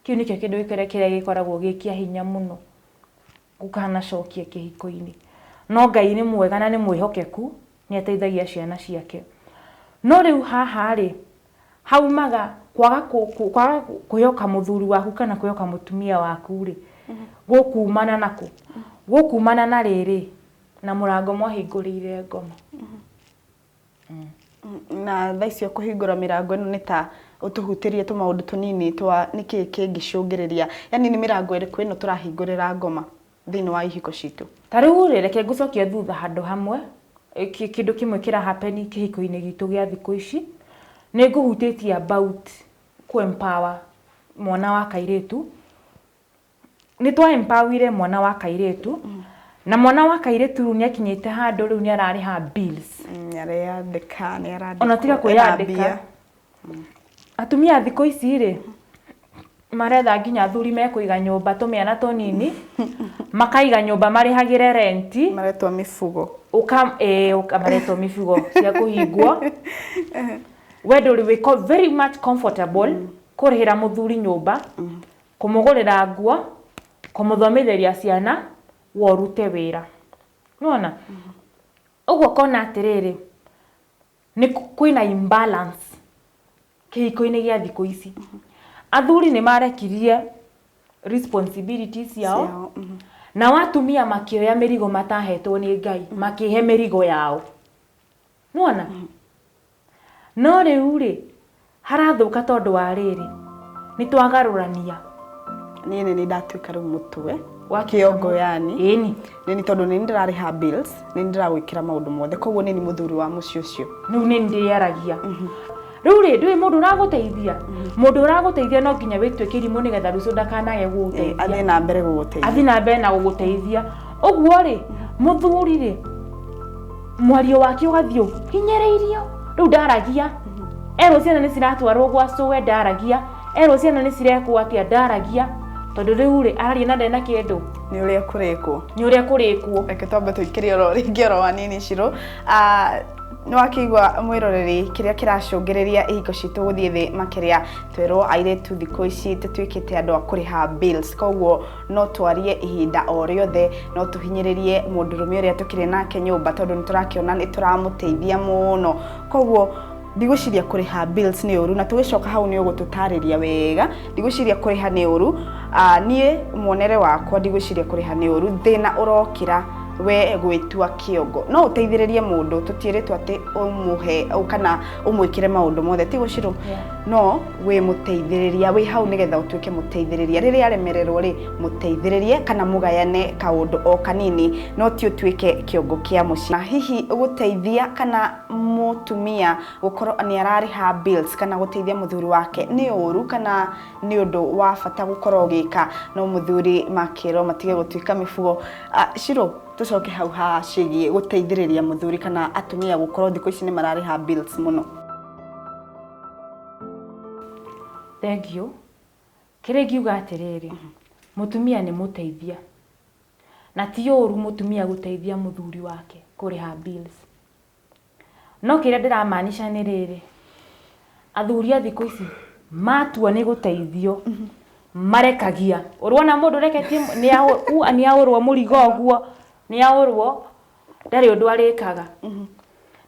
kĩu nĩkĩo kĩndũ kĩrĩa gĩkoragwo gĩ kĩa hinya mũno gũkanacokia kĩhiko-inĩ. No Ngai nĩ mwega na nĩ mwĩhokeku, nĩ ateithagia ciana ciake. No rĩu haha rĩ, haumaga kwaga kwaga kwĩhoka mũthuri waku kana kwĩhoka mũtumia waku rĩ gũkumana na kũ gũkumana na rĩrĩ na mũrango mwahingũrĩire ngoma na tha icio kũhingũra mĩrango ĩno nĩ ta ũtũhutĩrie tũmaũndũ tũnini twa nĩkĩ kĩngĩcũngĩrĩria yani nĩ mĩrango ĩrĩkũ ĩno tũrahingũrĩra ngoma thĩinĩ wa ihiko citũ. Ta rĩu rĩ, reke ngũcokie thutha handũ hamwe, kĩndũ kĩmwe kĩra happen kĩhiko-inĩ gitũ gĩa thikũ ici. Nĩ ngũhutĩtie about kũ empower mwana wa kairĩtu. Nĩ twa empower ire mwana wa kairĩtu, na mwana wa kairĩtu rĩu nĩ akinyĩte handũ rĩu nĩ ararĩha bills. Nĩ areyandĩka, nĩ arandĩkwo, ena mbia. Ona tiga kwĩyandĩka, Atumia thikũ ici rĩ, maretha nginya athuri mekũiga nyũmba tũmĩana tũnini, makaiga nyũmba marĩhagĩre rent. Maretwo mĩbugo. Ũka, ĩĩ, ũka maretwo mĩbugo cia kũhingwo. We ndũrĩ wĩ ko- very much comfortable kũrĩhĩra mũthuri nyũmba, kũmũgũrĩra nguo, kũmũthomitheria ciana, we ũrute wĩra. Nĩwona? Ũguo ũkona atĩrĩrĩ, Nĩ kwĩna imbalance kĩhiko-inĩ gĩa thikũ ici. Athuri nĩ marekirie responsibilities ciao, Ciao, mhm. nao atumia makĩoya mĩrigo matahetwo nĩ Ngai, makĩhe mĩrigo yao. Nĩwona? No rĩu-rĩ, Harathũka tondũ wa rĩrĩ. Nĩ twagarũrania. Niĩ nĩ nĩ ndatuĩka rĩu mũtwe. Wa kĩongo yani. Ĩni. Nĩ nĩ tondũ nĩ nĩ ndĩrarĩha bills, nĩ nĩ ndĩragwĩkĩra maũndũ mothe. Koguo nĩ nĩ mũthuri wa mũciĩ ũcio. Rĩu nĩ nĩ ndĩaragia. Rĩu rĩ, ndũĩ mũndũ ũragũteithia? Mũndũ ũragũteithia no nginya wĩtuĩke irimũ nĩgetha rũciũ ndakanage gũgũteithia. Athiĩ na mbere gũgũteithia. Athiĩ na mbere na gũgũteithia. Ũguo rĩ, mũthuri rĩ. mwario wake ũgathiĩ ũguo hinyĩrĩirio rĩu ndaragia erwo ciana nĩ ciratwarwo gwa cũwe ndaragia erwo ciana nĩ cirekwo atĩa ndaragia tondũ rĩu rĩ araria na ndena kĩndũ nĩ ũrĩa kũrĩkwo nĩ ũrĩa kũrĩkwo reke twambe tũikĩrie oro rĩngĩ oro wa nini cirũ Ah, nĩ wakĩigua mwĩroreri kĩrĩa kĩracũngĩrĩria ihingo citũ gũthiĩ thĩ makĩria twerwo airĩtu thikũ ici tũtuĩkĩte andũ a kũrĩha bills koguo no twarie ihinda o rĩothe no tũhinyĩrĩrie mũndũrũme ũrĩa tũkĩrĩ nake nyũmba tondũ nĩ tũrakĩona nĩ tũramũteithia mũno koguo ndigwĩciria kũrĩha bills nĩ ũru na tũgĩcoka hau nĩ ũgũtũtarĩria wega ndigwĩciria kũrĩha nĩ ũru Ah, niĩ mwonere wakwa ndigwĩciria kũrĩha nĩ ũru thĩna ũrokĩra we gwĩtua kĩongo no ũteithĩrĩrie mũndũ tũtiĩrĩtwo atĩ ũmũhe kana ũmwĩkĩre maũndũ mothe ti gũcirũ Yeah. no wĩ mũteithĩrĩria wĩ hau nĩgetha ũtuĩke mũteithĩrĩria rĩrĩa aremererwo rĩ mũteithĩrĩrie kana mũgayane kaũndũ o kanini no ti ũtuĩke kĩongo kĩa mũciĩ Na hihi gũteithia kana mũtumia gũkorwo nĩ ararĩha bills kana gũteithia mũthuri wake nĩ ũru kana nĩ ũndũ wa bata gũkorwo ũgĩka no mũthuri makĩrwo matige gũtuĩka mĩbugo Ah, Shiro tũcoke hau ha ciĩgiĩ gũteithĩrĩria mũthuri kana atumia gũkorwo thikũ ici nĩ mararĩha bills mũno Thengiũ, kĩrĩa ingiuga atĩrĩrĩ, mũtumia nĩ mũteithia, na ti ũru mũtumia gũteithia mũthuri wake kũrĩha bills. No kĩrĩa ndĩra maanisha nĩ rĩrĩ, athuri a thikũ ici matua nĩ gũteithio, marekagia. Ũrona mũndũ ũreketie nĩ aũrwo mũrigo ũguo, nĩ aũrwo, ndarĩ ũndũ arĩkaga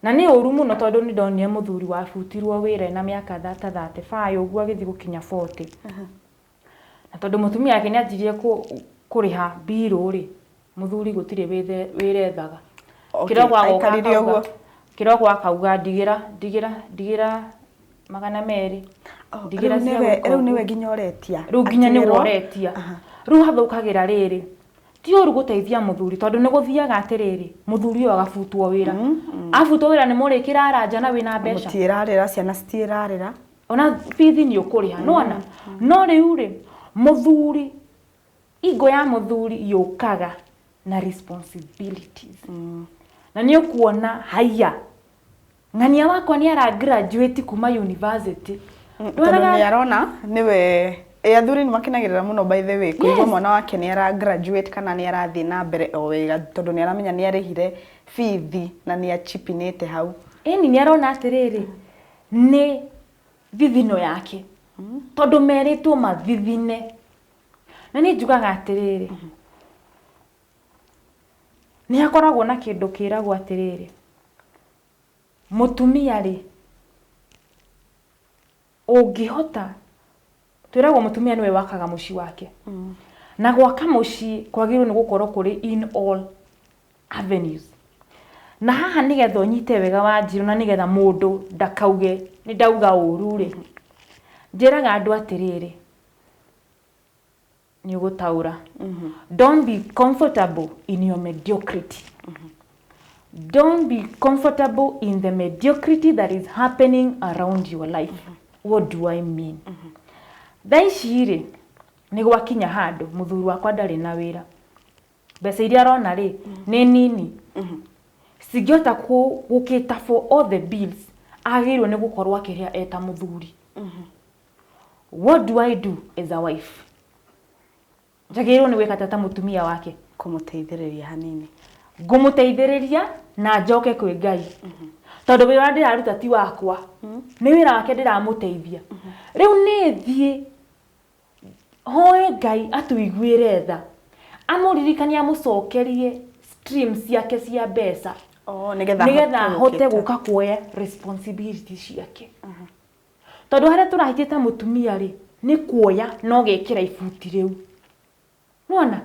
na nĩ ũru mũno tondũ nĩ ndonire mũthuri wabutirwo wĩra ena mĩaka ta thatĩ baĩ ũguo agĩthiĩ gũkinya botĩ na tondũ mũtumia wake nĩ anjirie kũrĩha mbirũ rĩ mũthuri gũtirĩ wĩra ethaga kĩroko agoka akauga kĩroko akauga ndigĩra ndigĩra ndigĩra magana merĩ ndigĩra cia gwĩka ũguo rĩu nĩwe nginya ũretia rĩu nginya nĩwe ũretia rĩu hathũkagĩra rĩrĩ ti ũru gũteithia mũthuri tondũ nĩ gũthiaga atĩrĩrĩ mũthuri ũyũ agabutwo wĩra mm, mm. abutwo wĩra nĩ mũrĩkĩra aranja na wĩna mbeca tiĩrarĩra ciana citiĩrarĩra ona bithi nĩ ũkũrĩha mm, nona no rĩu rĩ mũthuri ingo ya mũthuri yũkaga na responsibilities na nĩ ũkuona haiya Ng'ania wakwa nĩ ara graduate kuma university. Mm, tondũ nĩ arona nĩwe eh, athuri nĩ makenagĩrĩra mũno by the way kũigua mwana wake nĩ ara graduate kana nĩ arathiĩ na mbere o wega tondũ nĩ aramenya nĩ arĩhire bithi na nĩ achipinĩte hau ĩni nĩ arona atĩrĩrĩ nĩ thithino yake mm. tondũ merĩtwo mathithine na nĩ njugaga atĩrĩrĩ mm-hmm. Nĩ hakoragwo na kĩndũ kĩragwo atĩrĩrĩ, mũtumia rĩ, ũngĩhota, twĩragwo mũtumia nĩwe wakaga mũciĩ wake. Na gwaka mũciĩ kwagĩrĩirwo nĩ gũkorwo kũrĩ in all avenues. Na haha nĩgetha ũnyite wega wanjirũ na nĩgetha mũndũ ndakauge nĩ ndauga ũru rĩ, njĩraga andũ atĩrĩrĩ, nĩ ũgũtaũra don't be comfortable in your mediocrity don't be comfortable in the mediocrity that is happening around your life what do i mean thaa ici rĩ nĩ gwakinya handũ mũthuri wakwa ndarĩ na wĩra mbeca iria arona rĩ nĩ nini cingĩhota kũ- gũkĩta for all the bills agĩrĩirwo nĩ gũkorwo akĩrĩa eta mũthuri What do I do as a wife? Njagĩrĩirwo nĩ gwĩka atĩa ta mũtumia wake? Kũmũteithĩrĩria hanini. Ngũmũteithĩrĩria na njoke kwĩ Ngai. Tondũ wĩra ũrĩa ndĩraruta ti wakwa. Nĩ wĩra wake ndĩramũteithia. Rĩu nĩ thiĩ hoe Ngai atũiguĩre tha. Amũririkanie amũcokerie stream ciake cia mbeca. Oh, nĩgetha nĩgetha ahote ahote gũka. gũka kuoya responsibility ciake. Tondũ harĩa tũrahĩtĩte mũtumia-rĩ, nĩ kuoya na ũgekĩra ibuti rĩu. Nĩwona?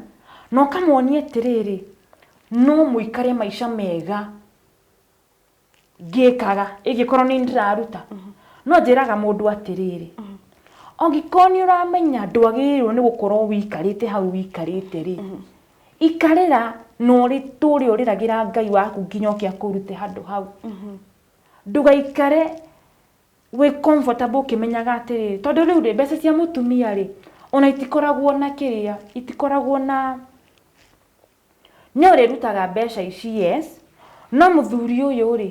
Na ũkamonia atĩrĩrĩ, no mũikare maica mega ngĩkaga, ĩngĩkorwo nĩ niĩ ndĩraruta. No njĩraga mũndũ atĩrĩrĩ, angĩkorwo nĩ ũramenya ndwagĩrĩirwo nĩ gũkorwo wĩikarĩte hau wĩikarĩte-rĩ, ikarĩra na ũtũre ũrĩragĩra Ngai waku nginya oke akũrute handũ hau. Ndũgaikare wĩ comfortable ũkĩmenyaga atĩrĩrĩ, tondũ rĩu rĩ, mbeca cia mũtumia rĩ, ona itikoragwo na kĩrĩa, itikoragwo na, nĩ ũrĩrutaga mbeca ici yes, no mũthuri ũyũ rĩ,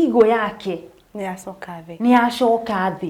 ego yake, Nĩ yacoka thĩ. nĩ yacoka thĩ.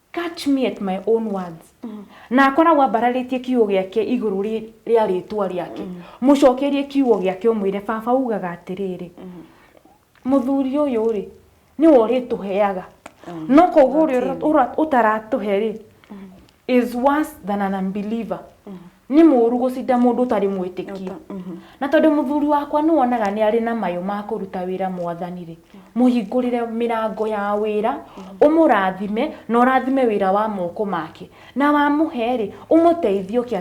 Catch me at my own words. Na akoragwo ambararĩtie kiugo gĩake igũrũ rĩ- rĩa rĩtwa rĩake mũcokerie kiugo gĩake ũmwĩre baba ugaga atĩrĩrĩ mũthuri ũyũ rĩ nĩwe ũrĩtũheaga no koguo ũrĩa ũra- ũtaratũhe rĩ is worse than an unbeliever Nĩ mũũru gũcinda mũndũ ũtarĩ mwĩtĩkia. Mhm. Na tondũ mũthuri wakwa nĩ wonaga nĩ arĩ na mayũ ma kũruta wĩra mwathani-rĩ, mũhingũrĩre mĩrango ya wĩra, mhm. ũmũrathime na ũrathime wĩra wa moko make. Na wamũhe-rĩ, ũmũteithie ũke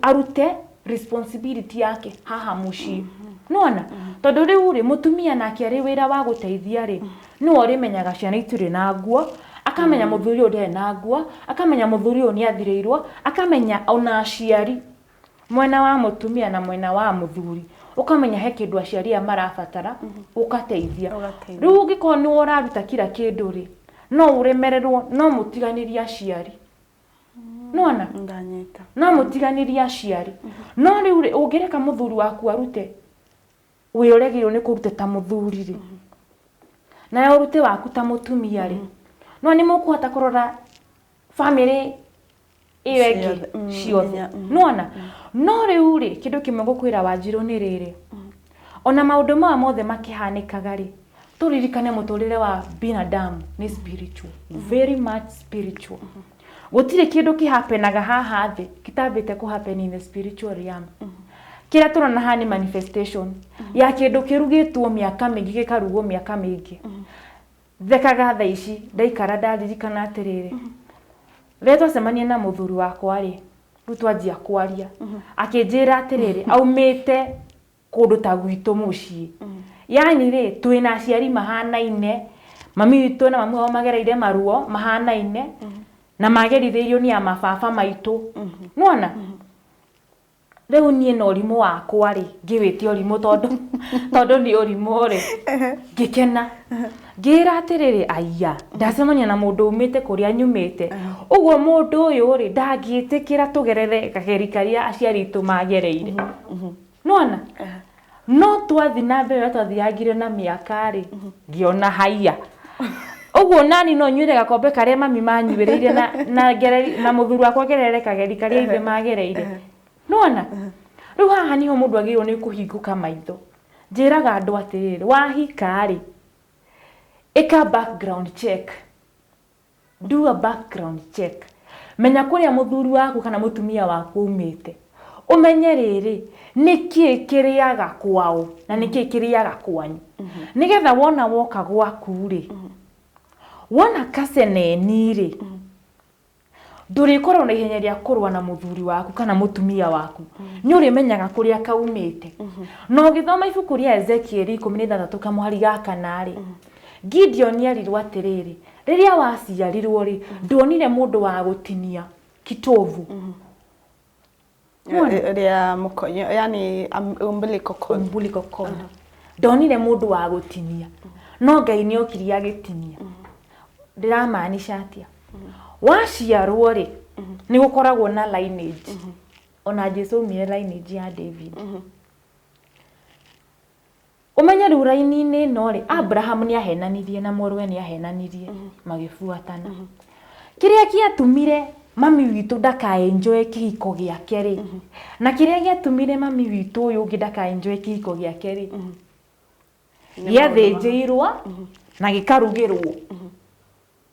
arute responsibility yake haha mũciĩ. Mhm. Nĩwona? Tondũ rĩu-rĩ, mũtumia nake arĩ wĩra wa gũteithia-rĩ, Nĩwe ũrĩmenyaga ciana itirĩ na nguo, akamenya mũthuri ũyũ ndarĩ na nguo, akamenya mũthuri ũyũ nĩ athirĩirwo, akamenya ona aciari, mwena wa mũtumia na mwena wa mũthuri, ũkamenya he kĩndũ aciari aya marabatara, ũgateithia. Ũgateithia. Rĩu ũngĩkorwo nĩwe ũraruta kira kĩndũ-rĩ, no ũremererwo, no mũtiganĩrie aciari. Nĩwona? Ndanyita. No mũtiganĩrie aciari. No rĩu-rĩ, ũngĩreka mũthuri waku arute, Wĩra ũrĩa agĩrĩirwo nĩ kũruta ta mũthuri rĩ, nawe ũrute waku ta mũtumia rĩ, nĩwona nĩ mũkũhota kũrora bamĩrĩ ĩyo ĩngĩ Ciothe, mm, ciothe nginya, mm. nĩwona no rĩu rĩ kĩndũ kĩmwe ngũkwĩra wanjirũ nĩ rĩrĩ ona maũndũ maya mothe makĩhanĩkaga rĩ tũririkane mũtũrĩre wa binadamu nĩ spiritual, very much spiritual Gũtirĩ kĩndũ kĩhapenaga haha thĩ kitambĩte kũhapeni in the spiritual realm. Kĩrĩa tũrona haha nĩ manifestation ya kĩndũ kĩrugĩtwo mĩaka mĩingĩ gĩkarugwo mĩaka mĩingĩ. Thekaga thaa ici ndaikara ndaririkana atĩrĩrĩ, rĩrĩa twacemania na mũthuri wakwa-rĩ, rĩu twanjia kwaria, akĩnjĩra atĩrĩrĩ, aumĩte kũndũ ta gwitũ mũciĩ yani rĩ twĩna aciari mahanaine mami witũ na mami wao magereire maruo mahanaine na magerithĩirio ni a mababa maitũ nĩwona rĩu niĩ na ũrimũ wakwa rĩ ngĩwĩtia ũrimũ tondũ tondũ nĩ ũrimũ rĩ ngĩkena ngĩra atĩrĩrĩ aiya ndacemania na mũndũ umĩte kũrĩa nyumĩte ũguo mũndũ ũyũ rĩ ndangĩtĩkĩra tũgerere kageri karĩa aciari aitũ magereire. nona no twathi na mbere ũrĩa twathiyangire na mĩaka-rĩ ngĩona haiya ũguo nani no nyuĩre gakombe karĩa mami manyuĩrĩire na, na, ngere- na mũthuri wakwa agerere kageri karĩa ithe magereire nona rĩu haha nĩho mũndũ agĩrĩirwo nĩ kũhingũka maitho njĩraga andũ atĩrĩrĩ wahika-rĩ ĩka background check Do a background check. Menya kũrĩa mũthuri waku kana mũtumia waku aumĩte. Ũmenye rĩrĩ, nĩkĩĩ kĩrĩaga kwao na nĩkĩĩ kĩrĩaga kwanyu. Nĩgetha wona woka gwaku rĩ, wona kaceneni rĩ, ndũrĩkorwo na ihenya rĩa kũrũa na mũthuri waku kana mũtumia waku. Nĩ ũrĩmenyaga kũrĩa kaumĩte. Na ũgĩthoma ibuku rĩa Ezekieli ikũmi na ithathatũ kamũhari ga kana rĩ, Gideoni erirwo atĩrĩrĩ, rĩrĩa waciarirwo rĩ, nduonire mũndũ wa gũtinia kitovu. Muona? Rĩa mũkonyo, yani um, umbilical cord. umbilical cord ndonire mũndũ wa gũtinia no ngai nĩ okiri agĩtinia ndĩramaanisha atĩa waciarwo rĩ nĩ gũkoragwo na lineage ona jesu aumire lineage ya david Ũmenye rĩu raini-inĩ ĩno-rĩ, Abraham nĩahenanirie na mũrũwe nĩahenanirie, magĩbuatana. Kĩrĩa gĩatumire mami witũ ndaka enjoy kĩhiko gĩake-rĩ, na kĩrĩa gĩatumire mami witũ ũyũ ũngĩ ndaka enjoy kĩhiko gĩake-rĩ, gĩathĩnjĩirwo na gĩkarugĩrwo.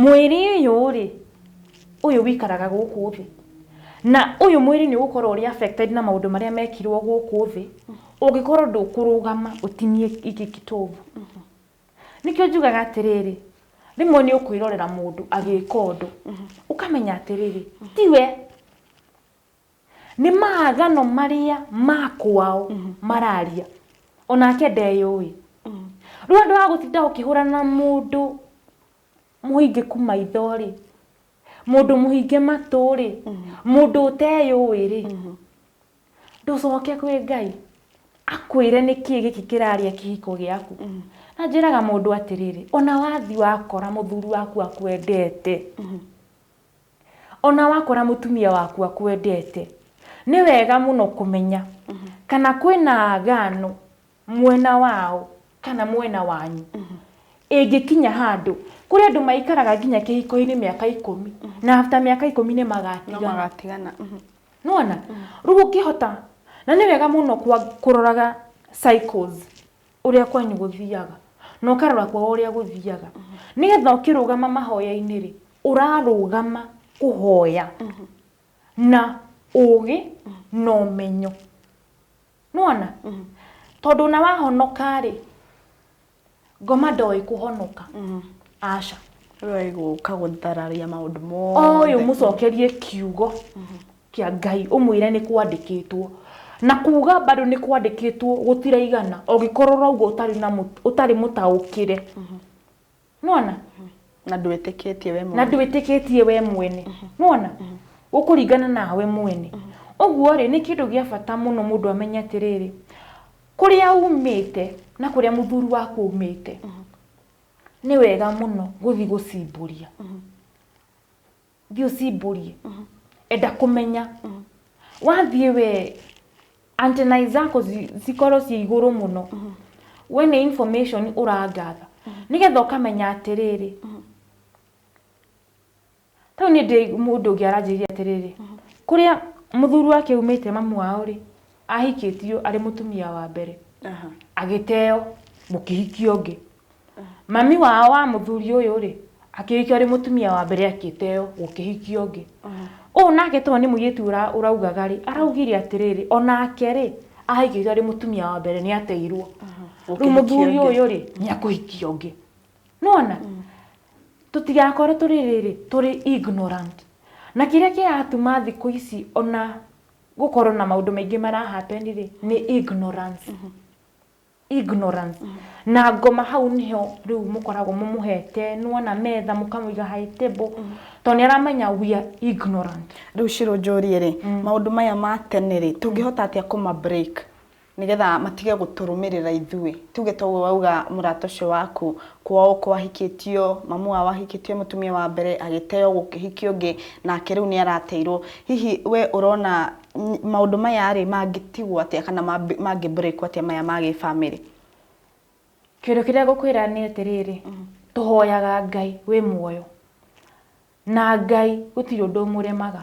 Mwĩrĩ ũyũ-rĩ, ũyũ wĩikaraga gũkũ thĩ, na ũyũ mwĩrĩ nĩ ũgũkorwo ũrĩ affected na maũndũ marĩa mekirwo gũkũ thĩ, ũngĩkorwo ndũkũrũgama ũtinie gĩkĩ kĩtobu. Nĩkĩo njugaga atĩrĩrĩ, rĩmwe nĩ ũkwĩrorera mũndũ agĩka ũndũ, ũkamenya atĩrĩrĩ, ti we. Nĩ maathano marĩa ma kwao mararia. O nake ndeyũĩ. Rĩu handũ ha gũtinda ũkĩhũrana na mũndũ mũhingĩku maitho-rĩ, mũndũ mũhinge matũ-rĩ, mũndũ ũteyũĩ-rĩ, ndũcoke kwĩ Ngai akwĩre nĩkĩĩ gĩkĩ kĩrarĩa kĩhiko gĩaku. Na njĩraga mũndũ atĩrĩrĩ, o na wathiĩ wakora mũthuri waku akwendete, O na wakora mũtumia waku akwendete, nĩ wega mũno kũmenya kana kwĩ na agano mwena wao kana mwena wanyu. Ĩngĩkinya handũ, kũrĩ andũ maikaraga nginya kĩhiko-inĩ mĩaka ikũmi, na after mĩaka ikũmi nĩ magatigana. No magatigana. Nĩ wona? Rĩu ũngĩhota, na nĩ wega mũno kũroraga cycles. ũrĩa kwanyu gũthiaga na ũkarora kwao ũrĩa gũthiaga nĩgetha ũkĩrũgama mahoya-inĩ rĩ ũrarũgama kũhoya na ũgĩ na ũmenyo nĩwona tondũ ona wahonoka rĩ ngoma ndoĩ kũhonoka aca. Ũyũ oĩ gũka gũthararia maũndũ mothe. Oĩ ũmũcokerie kiugo Kĩa Ngai, ũmwĩre nĩ kwandĩkĩtwo. Na kuuga bado nĩ kwandĩkĩtwo gũtiraigana, ũngĩkorwo ũrauga ũtarĩ na ũtarĩ mũtaũkĩre. Nĩwona? Na ndwĩtĩkĩtie we mwene. Na ndwĩtĩkĩtie we mwene. Nĩwona? Gũkũringana nawe mwene. Ũguo-rĩ, nĩ kĩndũ gĩa bata mũno mũndũ amenye atĩrĩrĩ, kũrĩa umĩte na kũrĩa mũthuri waku aumĩte, nĩ wega mũno gũthiĩ gũcimbũria. thiĩ ũcimbũrie enda kũmenya wathiĩ we antenai zako zi- cikorwo ciĩ igũrũ mũno we nĩ information ũrangatha nĩgetha ũkamenya atĩrĩrĩ tau nĩ ndĩ mũndũ ũngĩ aranjĩrĩria atĩrĩrĩ kũrĩa mũthuri wake aumĩte mamu wao rĩ ahikĩtio arĩ mũtumia wa mbere Aha. agĩteo mũkĩhikia ũngĩ mami wao wa mũthuri ũyũ rĩ akĩhikio arĩ mũtumia wa mbere akĩteo gũkĩhikia ũngĩ ũũ nake tondũ nĩ mũirĩtu ũra- ũraugaga rĩ araugire atĩrĩrĩ onake rĩ ahikĩtio arĩ mũtumia wa mbere nĩ ateirwo rĩu Gũkĩhikia mũthuri ũngĩ. ũyũ rĩ nĩ akũhikia ũngĩ nona tũtigakorwo tũrĩ rĩrĩ tũrĩ ignorant na kĩrĩa kĩratuma thikũ ici ona gũkorwo na maũndũ maingĩ mara happen rĩ nĩ ignorance ignorance na ngoma hau nĩho rĩu mũkoragwo mũmũhete nĩwona metha mũkamũiga high table tondũ nĩ aramenya we are ignorant Rĩu Shiro njũrie rĩ, maũndũ maya ma tene rĩ, tũngĩhota atĩa kũma break? nĩgetha matige gũtũrũmĩrĩra ithuĩ, tuge ta ũguo wauga mũrata ũcio waku kwao ũko ahikĩtio, mamu wao ahikĩtio mũtumia wa mbere, agĩteo gũkĩhikio ũngĩ, nake rĩu nĩ arateirwo. Hihi we ũrona maũndũ maya rĩ mangĩtigwo atĩa kana mangĩ break wo atĩa maya ma gĩbamĩrĩ? Kĩndũ kĩrĩa ngũkwĩra nĩ atĩrĩrĩ, tũhoyaga Ngai wĩ muoyo, na Ngai gũtirĩ ũndũ ũmũremaga.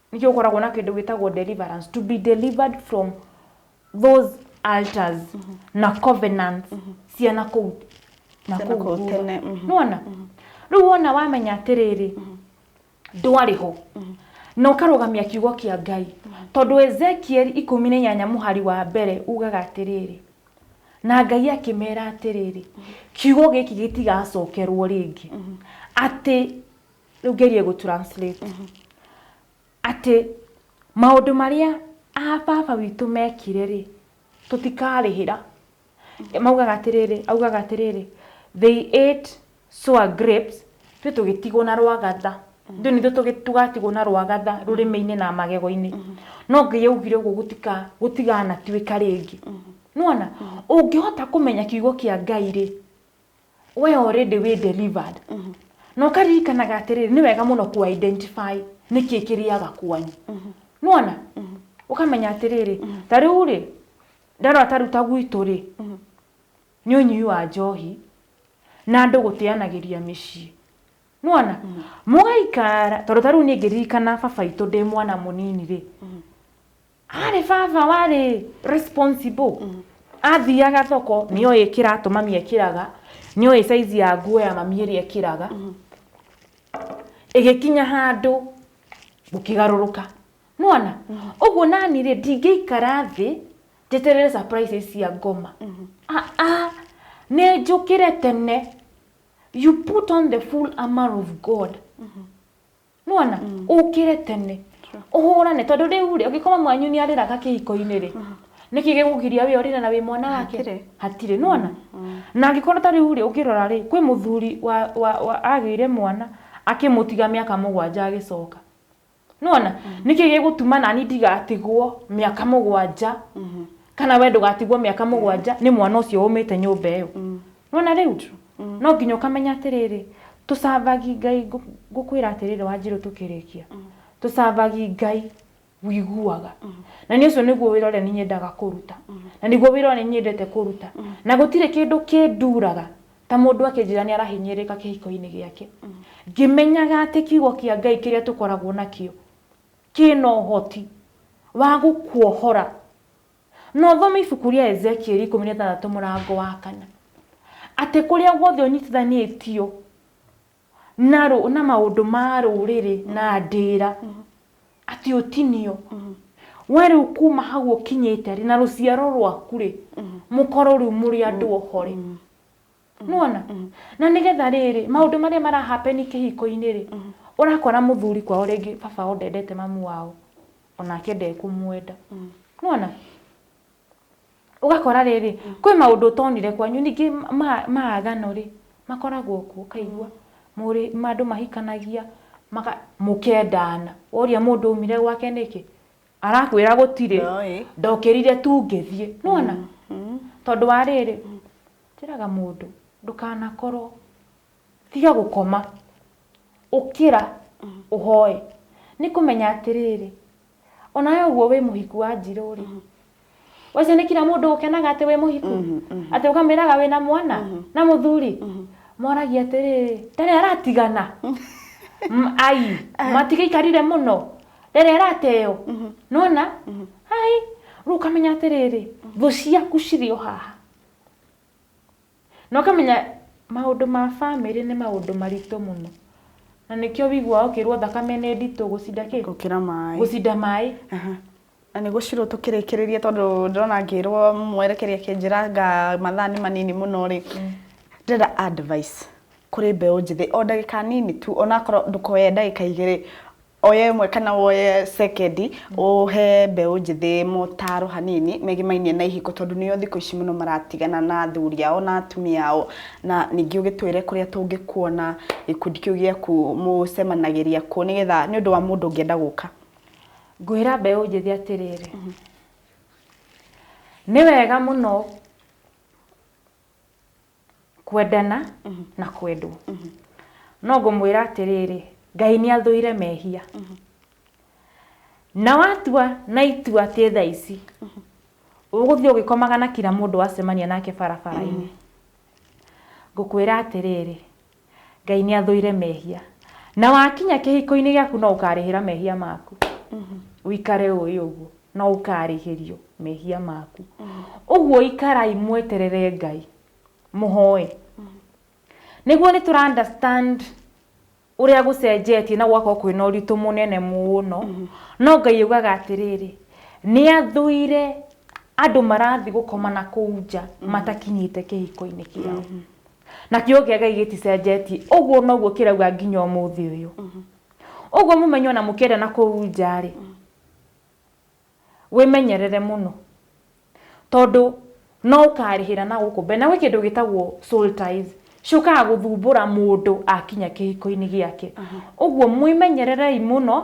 nĩkĩo ũkoragwo na kĩndũ gĩtagwo deliverance to be delivered from those altars na covenants cia na kũu na Cia na kũu kũu thutha. tene, mhm. nĩwona rĩu wona wamenya atĩrĩrĩ ndwarĩ ho na ũkarũgamia kiugo kĩa ngai tondũ ezekieli ikũmi na inyanya mũhari wa mbere ugaga atĩrĩrĩ na ngai akĩmera atĩrĩrĩ kiugo gĩkĩ gĩtigacokerwo rĩngĩ atĩ rĩu ngerie gũ translate atĩ maũndũ marĩa a baba witũ mekire rĩ tũtikarĩhĩra maugaga atĩrĩrĩ augaga atĩrĩrĩ they ate sour grapes ithuĩ tũgĩtigwo na rwagatha ithuĩ nithuĩ tũgĩ- tũgatigwo na rwagatha rũrĩmĩ-inĩ na magego-inĩ no ngai augire ũguo gũtika gũtiganatuĩka rĩngĩ nĩwona ũngĩhota kũmenya kiugo kĩa ngai rĩ we already wĩ delivered na ũkaririkanaga atĩrĩrĩ nĩ wega mũno ku identify nĩkĩ kĩrĩaga kwanyu nĩwona ũkamenya atĩrĩrĩ ta rĩu rĩ ndarora ta rĩu ta gwitũ rĩ nĩ ũnyui wa njohi na andũ gũteanagĩria mĩciĩ nĩwona mũgaikara tondũ ta rĩu niĩ ngĩririkana baba witũ ndĩ mwana mũnini rĩ Arĩ baba warĩ responsible. Mm. Athiaga thoko, nĩ oĩ kĩratũ mami ekĩraga, nĩ oĩ saizi ya nguo ya mami ĩrĩa ekĩraga. Mm. Ĩgĩkinya handũ gũkĩgarũrũka. Nĩwona? Mm. Ũguo nani rĩ, ndingĩikara thĩ njeterere surprise cia ngoma. Mm-hmm. Ah, ah, nĩ njũkĩre tene. You put on the full armor of God. Mm-hmm. nona mm. ukire tene uhurane tondu riu ri ungikoma mwanyu ni ariraga kihiko-ini ri mm. niki gigugiria wi orire na wi mwana wake hatire nona mm. na angikorwo ta riu ri ungirora ri kwi muthuri wa wa agire mwana akimutiga miaka mugwanja agicoka nona niki gigutuma nani ndigatigwo miaka mugwanja mm-hmm. kana we ndugatigwo miaka mugwanja ni mwana ucio umite nyumba iyo Nĩwona rĩu? No nginya ũkamenya atĩrĩrĩ, tũcavagi Ngai ngũ- ngũkwĩra atĩrĩrĩ Wanjirũ tũkĩrĩkia. Tũcavagi Ngai wĩiguaga. Na nĩ ũcio nĩguo wĩra ũrĩa niĩ nyendaga kũruta. Na nĩguo wĩra ũrĩa niĩ nyendete kũruta. Na gũtirĩ kĩndũ kĩnduraga ta mũndũ akĩnjĩra nĩ arahinyĩrĩrĩka kĩhiko-inĩ gĩake. Ngĩmenyaga atĩ kiugo kĩa Ngai kĩrĩa tũkoragwo nakĩo, kĩna ũhoti wa gũkuohora Na ũthome ibuku rĩa Ezekieli ikũmi na ĩthathatũ mũrango wa kana, atĩ kũrĩa guothe ũnyitithanĩtio na, rũ, na maũndũ ma rũrĩrĩ na ndĩra atĩ ũtinio we rĩu kuma hau ũkinyĩte rĩ na rũciaro rwaku rĩ mũkorwo rĩu mũrĩ andũ ohore nona na nä getha rä rä maå ndå marä a marahapeni kä hiko-inä rä årakora må thuri kwao rä ngä baba wao ndendete mamu wao onake ndekå mwenda nona ũgakora rĩrĩ kwĩ maũndũ ũtonire kwanyu ningĩ ma- maagano rĩ makoragwo kuo kaigua mũrĩ andũ mahikanagia maka- mũkendana woria mũndũ umire gwake nĩkĩ arakwĩra gũtirĩ Ndoĩ. ndokĩrire tu ngĩthiĩ nona tondũ wa rĩrĩ Njĩraga mũndũ ndũkanakorwo, tiga gũkoma, ũkĩra ũhoe. Nĩ kũmenya atĩrĩrĩ, o nawe ũguo wĩ mũhiku Wanjirũ rĩ, ũcio nĩ kira mũndũ ũkenaga atĩ wĩ mũhiku? Atĩ ũkamwĩraga wĩna mwana na mũthuri? Moragia atĩrĩrĩ, ndarĩ aratigana? Aii, matigĩikarire mũno? Ndarĩ arateo? Nĩ wona? Aii, rĩu ũkamenya atĩrĩrĩ, thũ ciaku cirĩ o haha. Na ũkamenya maũndũ ma bamĩrĩ nĩ maũndũ maritũ mũno. Na nĩkĩo wĩiguaga ũkĩrwo thakame nĩ nditũ gũcinda kĩ? Gũkĩra maĩ. Gũcinda maĩ. Na nĩ gũcirwo tũkĩrĩkĩrĩrie tondũ ndĩrona ngĩrwo mwerekeri akĩnjĩra anga mathaa nĩ manini mũno rĩ, ndĩrenda advice kũrĩ mbeũ njĩthĩ o ndagĩka nini tu, onakorwo ndũkoe ndagĩka igĩrĩ, Oya ĩmwe kana woye sekendi ũhe mbeũ njĩthĩ motaro hanini megĩmainie na ihiko tondũ nĩo thikũ ici mũno maratigana na athuri ao na atumia ao na ningĩ ũgĩtwĩre kũrĩa tũngĩkuona gĩkundi kĩu gĩaku mũcemanagĩria kũ nĩgetha nĩũndũ wa mũndũ ũngĩenda gũka. Ngwĩra mbeũ njĩthĩ atĩrĩrĩ, nĩ wega mũno Kwendana na kwendwo. No ngũmwĩra atĩrĩrĩ, Ngai nĩ athũire mehia. Na watua na itua atĩ thaa ici ũgũthiĩ ũgĩkomaga na kira mũndũ wacemania nake barabara-inĩ, ngũkwĩra atĩrĩrĩ, Ngai nĩ athũire mehia. Na wakinya kĩhiko-inĩ gĩaku no ũkarĩhĩra mehia maku. Ũikare ũĩ ũguo. No ũkarĩhĩrio mehia maku. Ũguo ikarai mweterere Ngai. Mũhoe. Nĩguo nĩ tũra understand ũrĩa gũcenjetie na gũgakorwo kwĩna ũritũ mũnene mũno. No Ngai augaga atĩrĩrĩ, nĩ athũire andũ marathiĩ gũkoma na kũu nja matakinyĩte kĩhiko-inĩ kĩao. Na kiugo kĩa Ngai gĩticenjetie. Ũguo noguo kĩrauga nginya ũmũthĩ ũyũ. Ũguo mũmenye ona mũkĩenda na kũu nja rĩ, wĩmenyerere mũno. Tondũ no ũkarĩhĩra na gũkũ mbere. Na gwĩ kĩndũ gĩtagwo soul ties, ciũkaga gũthumbũra mũndũ akinya kĩhiko-inĩ gĩake. Ũguo mwĩmenyererei mũno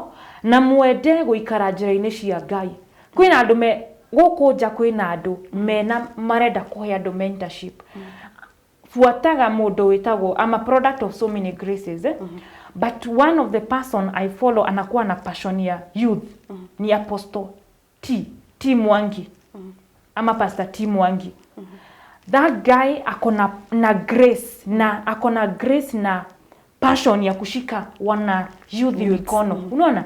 na mwende gũikara njĩra-inĩ cia Ngai. Kwĩna andũ me gũkũ nja kwĩna andũ mena marenda kũhe andũ mentorship buataga mũndũ wĩtagwo I'm a product of so many graces eh? but one of the person I follow anakuwa na passion ya youth ni apostle T T Mwangi ama pastor T Mwangi that guy akona na grace na akona grace na passion ya kushika wana youth mikono unaona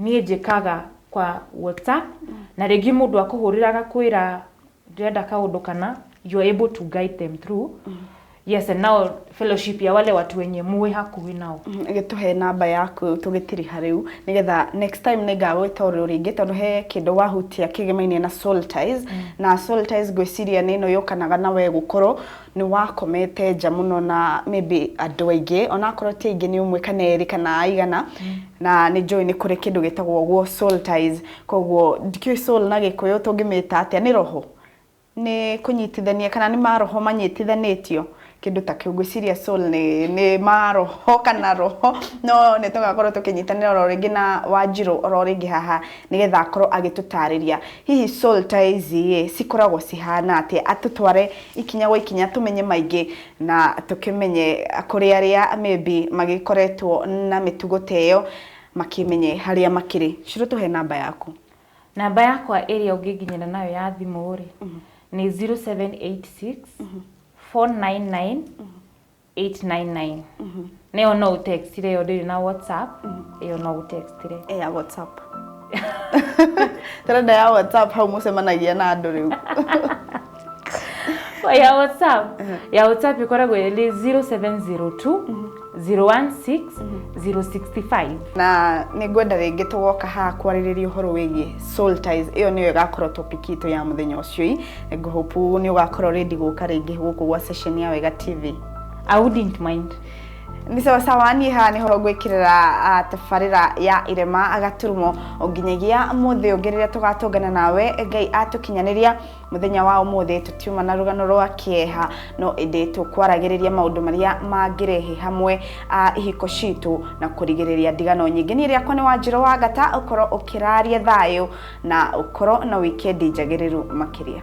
niĩ njĩkaga kwa WhatsApp na rĩngĩ mũndũ akũhũrĩra agakwĩra ndĩrenda kaũndũ kana you are able to guide them through yes and now fellowship ya wale watu wenye muwe hakuhĩ nao gĩtũhe namba yaku tũgĩtiriha rĩu nĩgetha next time nĩ ngagwĩta ũrĩ o rĩngĩ tondũ he kĩndũ wahutia kĩgĩmainie na soul ties na soul ties ngwĩciria nĩ ĩno yũkanaga na we gũkorwo nĩ wakomete nja mũno na maybe andũ aingĩ onakorwo ti aingĩ nĩ ũmwe kana erĩ kana aigana na nĩ njũĩ nĩ kũrĩ kĩndũ gĩtagwo ũguo soul ties koguo ndikĩũĩ soul na gĩkũyũ tũngĩmĩta atĩa nĩ roho nĩ kũnyitithania kana nĩ maroho manyitithanĩtio kĩndũ ta kĩu ngwĩciria soul nĩ, nĩ maroho kana roho no nĩ tũgakorwo tũkĩnyitanĩra oro rĩngĩ na wanjirũ oro rĩngĩ haha nĩgetha akorwo agĩtũtarĩria Hihi soul ta ici-ĩ, cikoragwo cihana atĩa? Tũtware ikinya gwa ikinya tũmenye maingĩ na tũkĩmenye kũrĩ arĩa maybe magĩkoretwo na mĩtugo ta ĩyo, makĩmenye harĩa makĩrĩ. Shiro tũhe namba yaku. Namba yakwa ĩrĩa ũngĩnginyĩra nayo ya thimũ-rĩ, nĩ zero seven eight six, four nine nine, 899 nayo no ũtextire yo ndĩrĩ na whatsapp ĩyo no ũtextire Eh, ya whatsapp tarenda ya whatsapp hau mũcemanagia na andũ rĩu Kwa ya whatsapp ya whatsapp ĩkoragwo ĩrĩ 0702 016 065 na nĩ ngwenda rĩngĩ tũgoka haha kwarĩrĩria ũhoro wĩgiĩ soul ties ĩyo nĩyo ĩgakorwo topic itũ ya mũthenya ũcio I go hope nĩ ũgakorwo ready gũka rĩngĩ gũkũ gwa session ya Wega TV. I wouldn't mind. Nĩ sawa sawa niĩ haha nĩho ngwĩkĩrĩra ah, tabarĩra ya irema agaturumo nginyagia mũthĩ ũngĩ rĩrĩa tũgatũngana nawe ngai atũkinyanĩria mũthenya wa ũmũthĩ tũtiuma na rũgano rwa kĩeha no ĩndĩ tũkwaragĩrĩria maũndũ marĩa mangĩrehe hamwe ah, ihiko citũ na kũrigĩrĩria ndigano nyingĩ niĩ rĩakwa nĩ wanjĩrũ wa ngata ũkorwo ũkĩraria thayũ na ũkorwo na wikendi njagĩrĩru makĩria.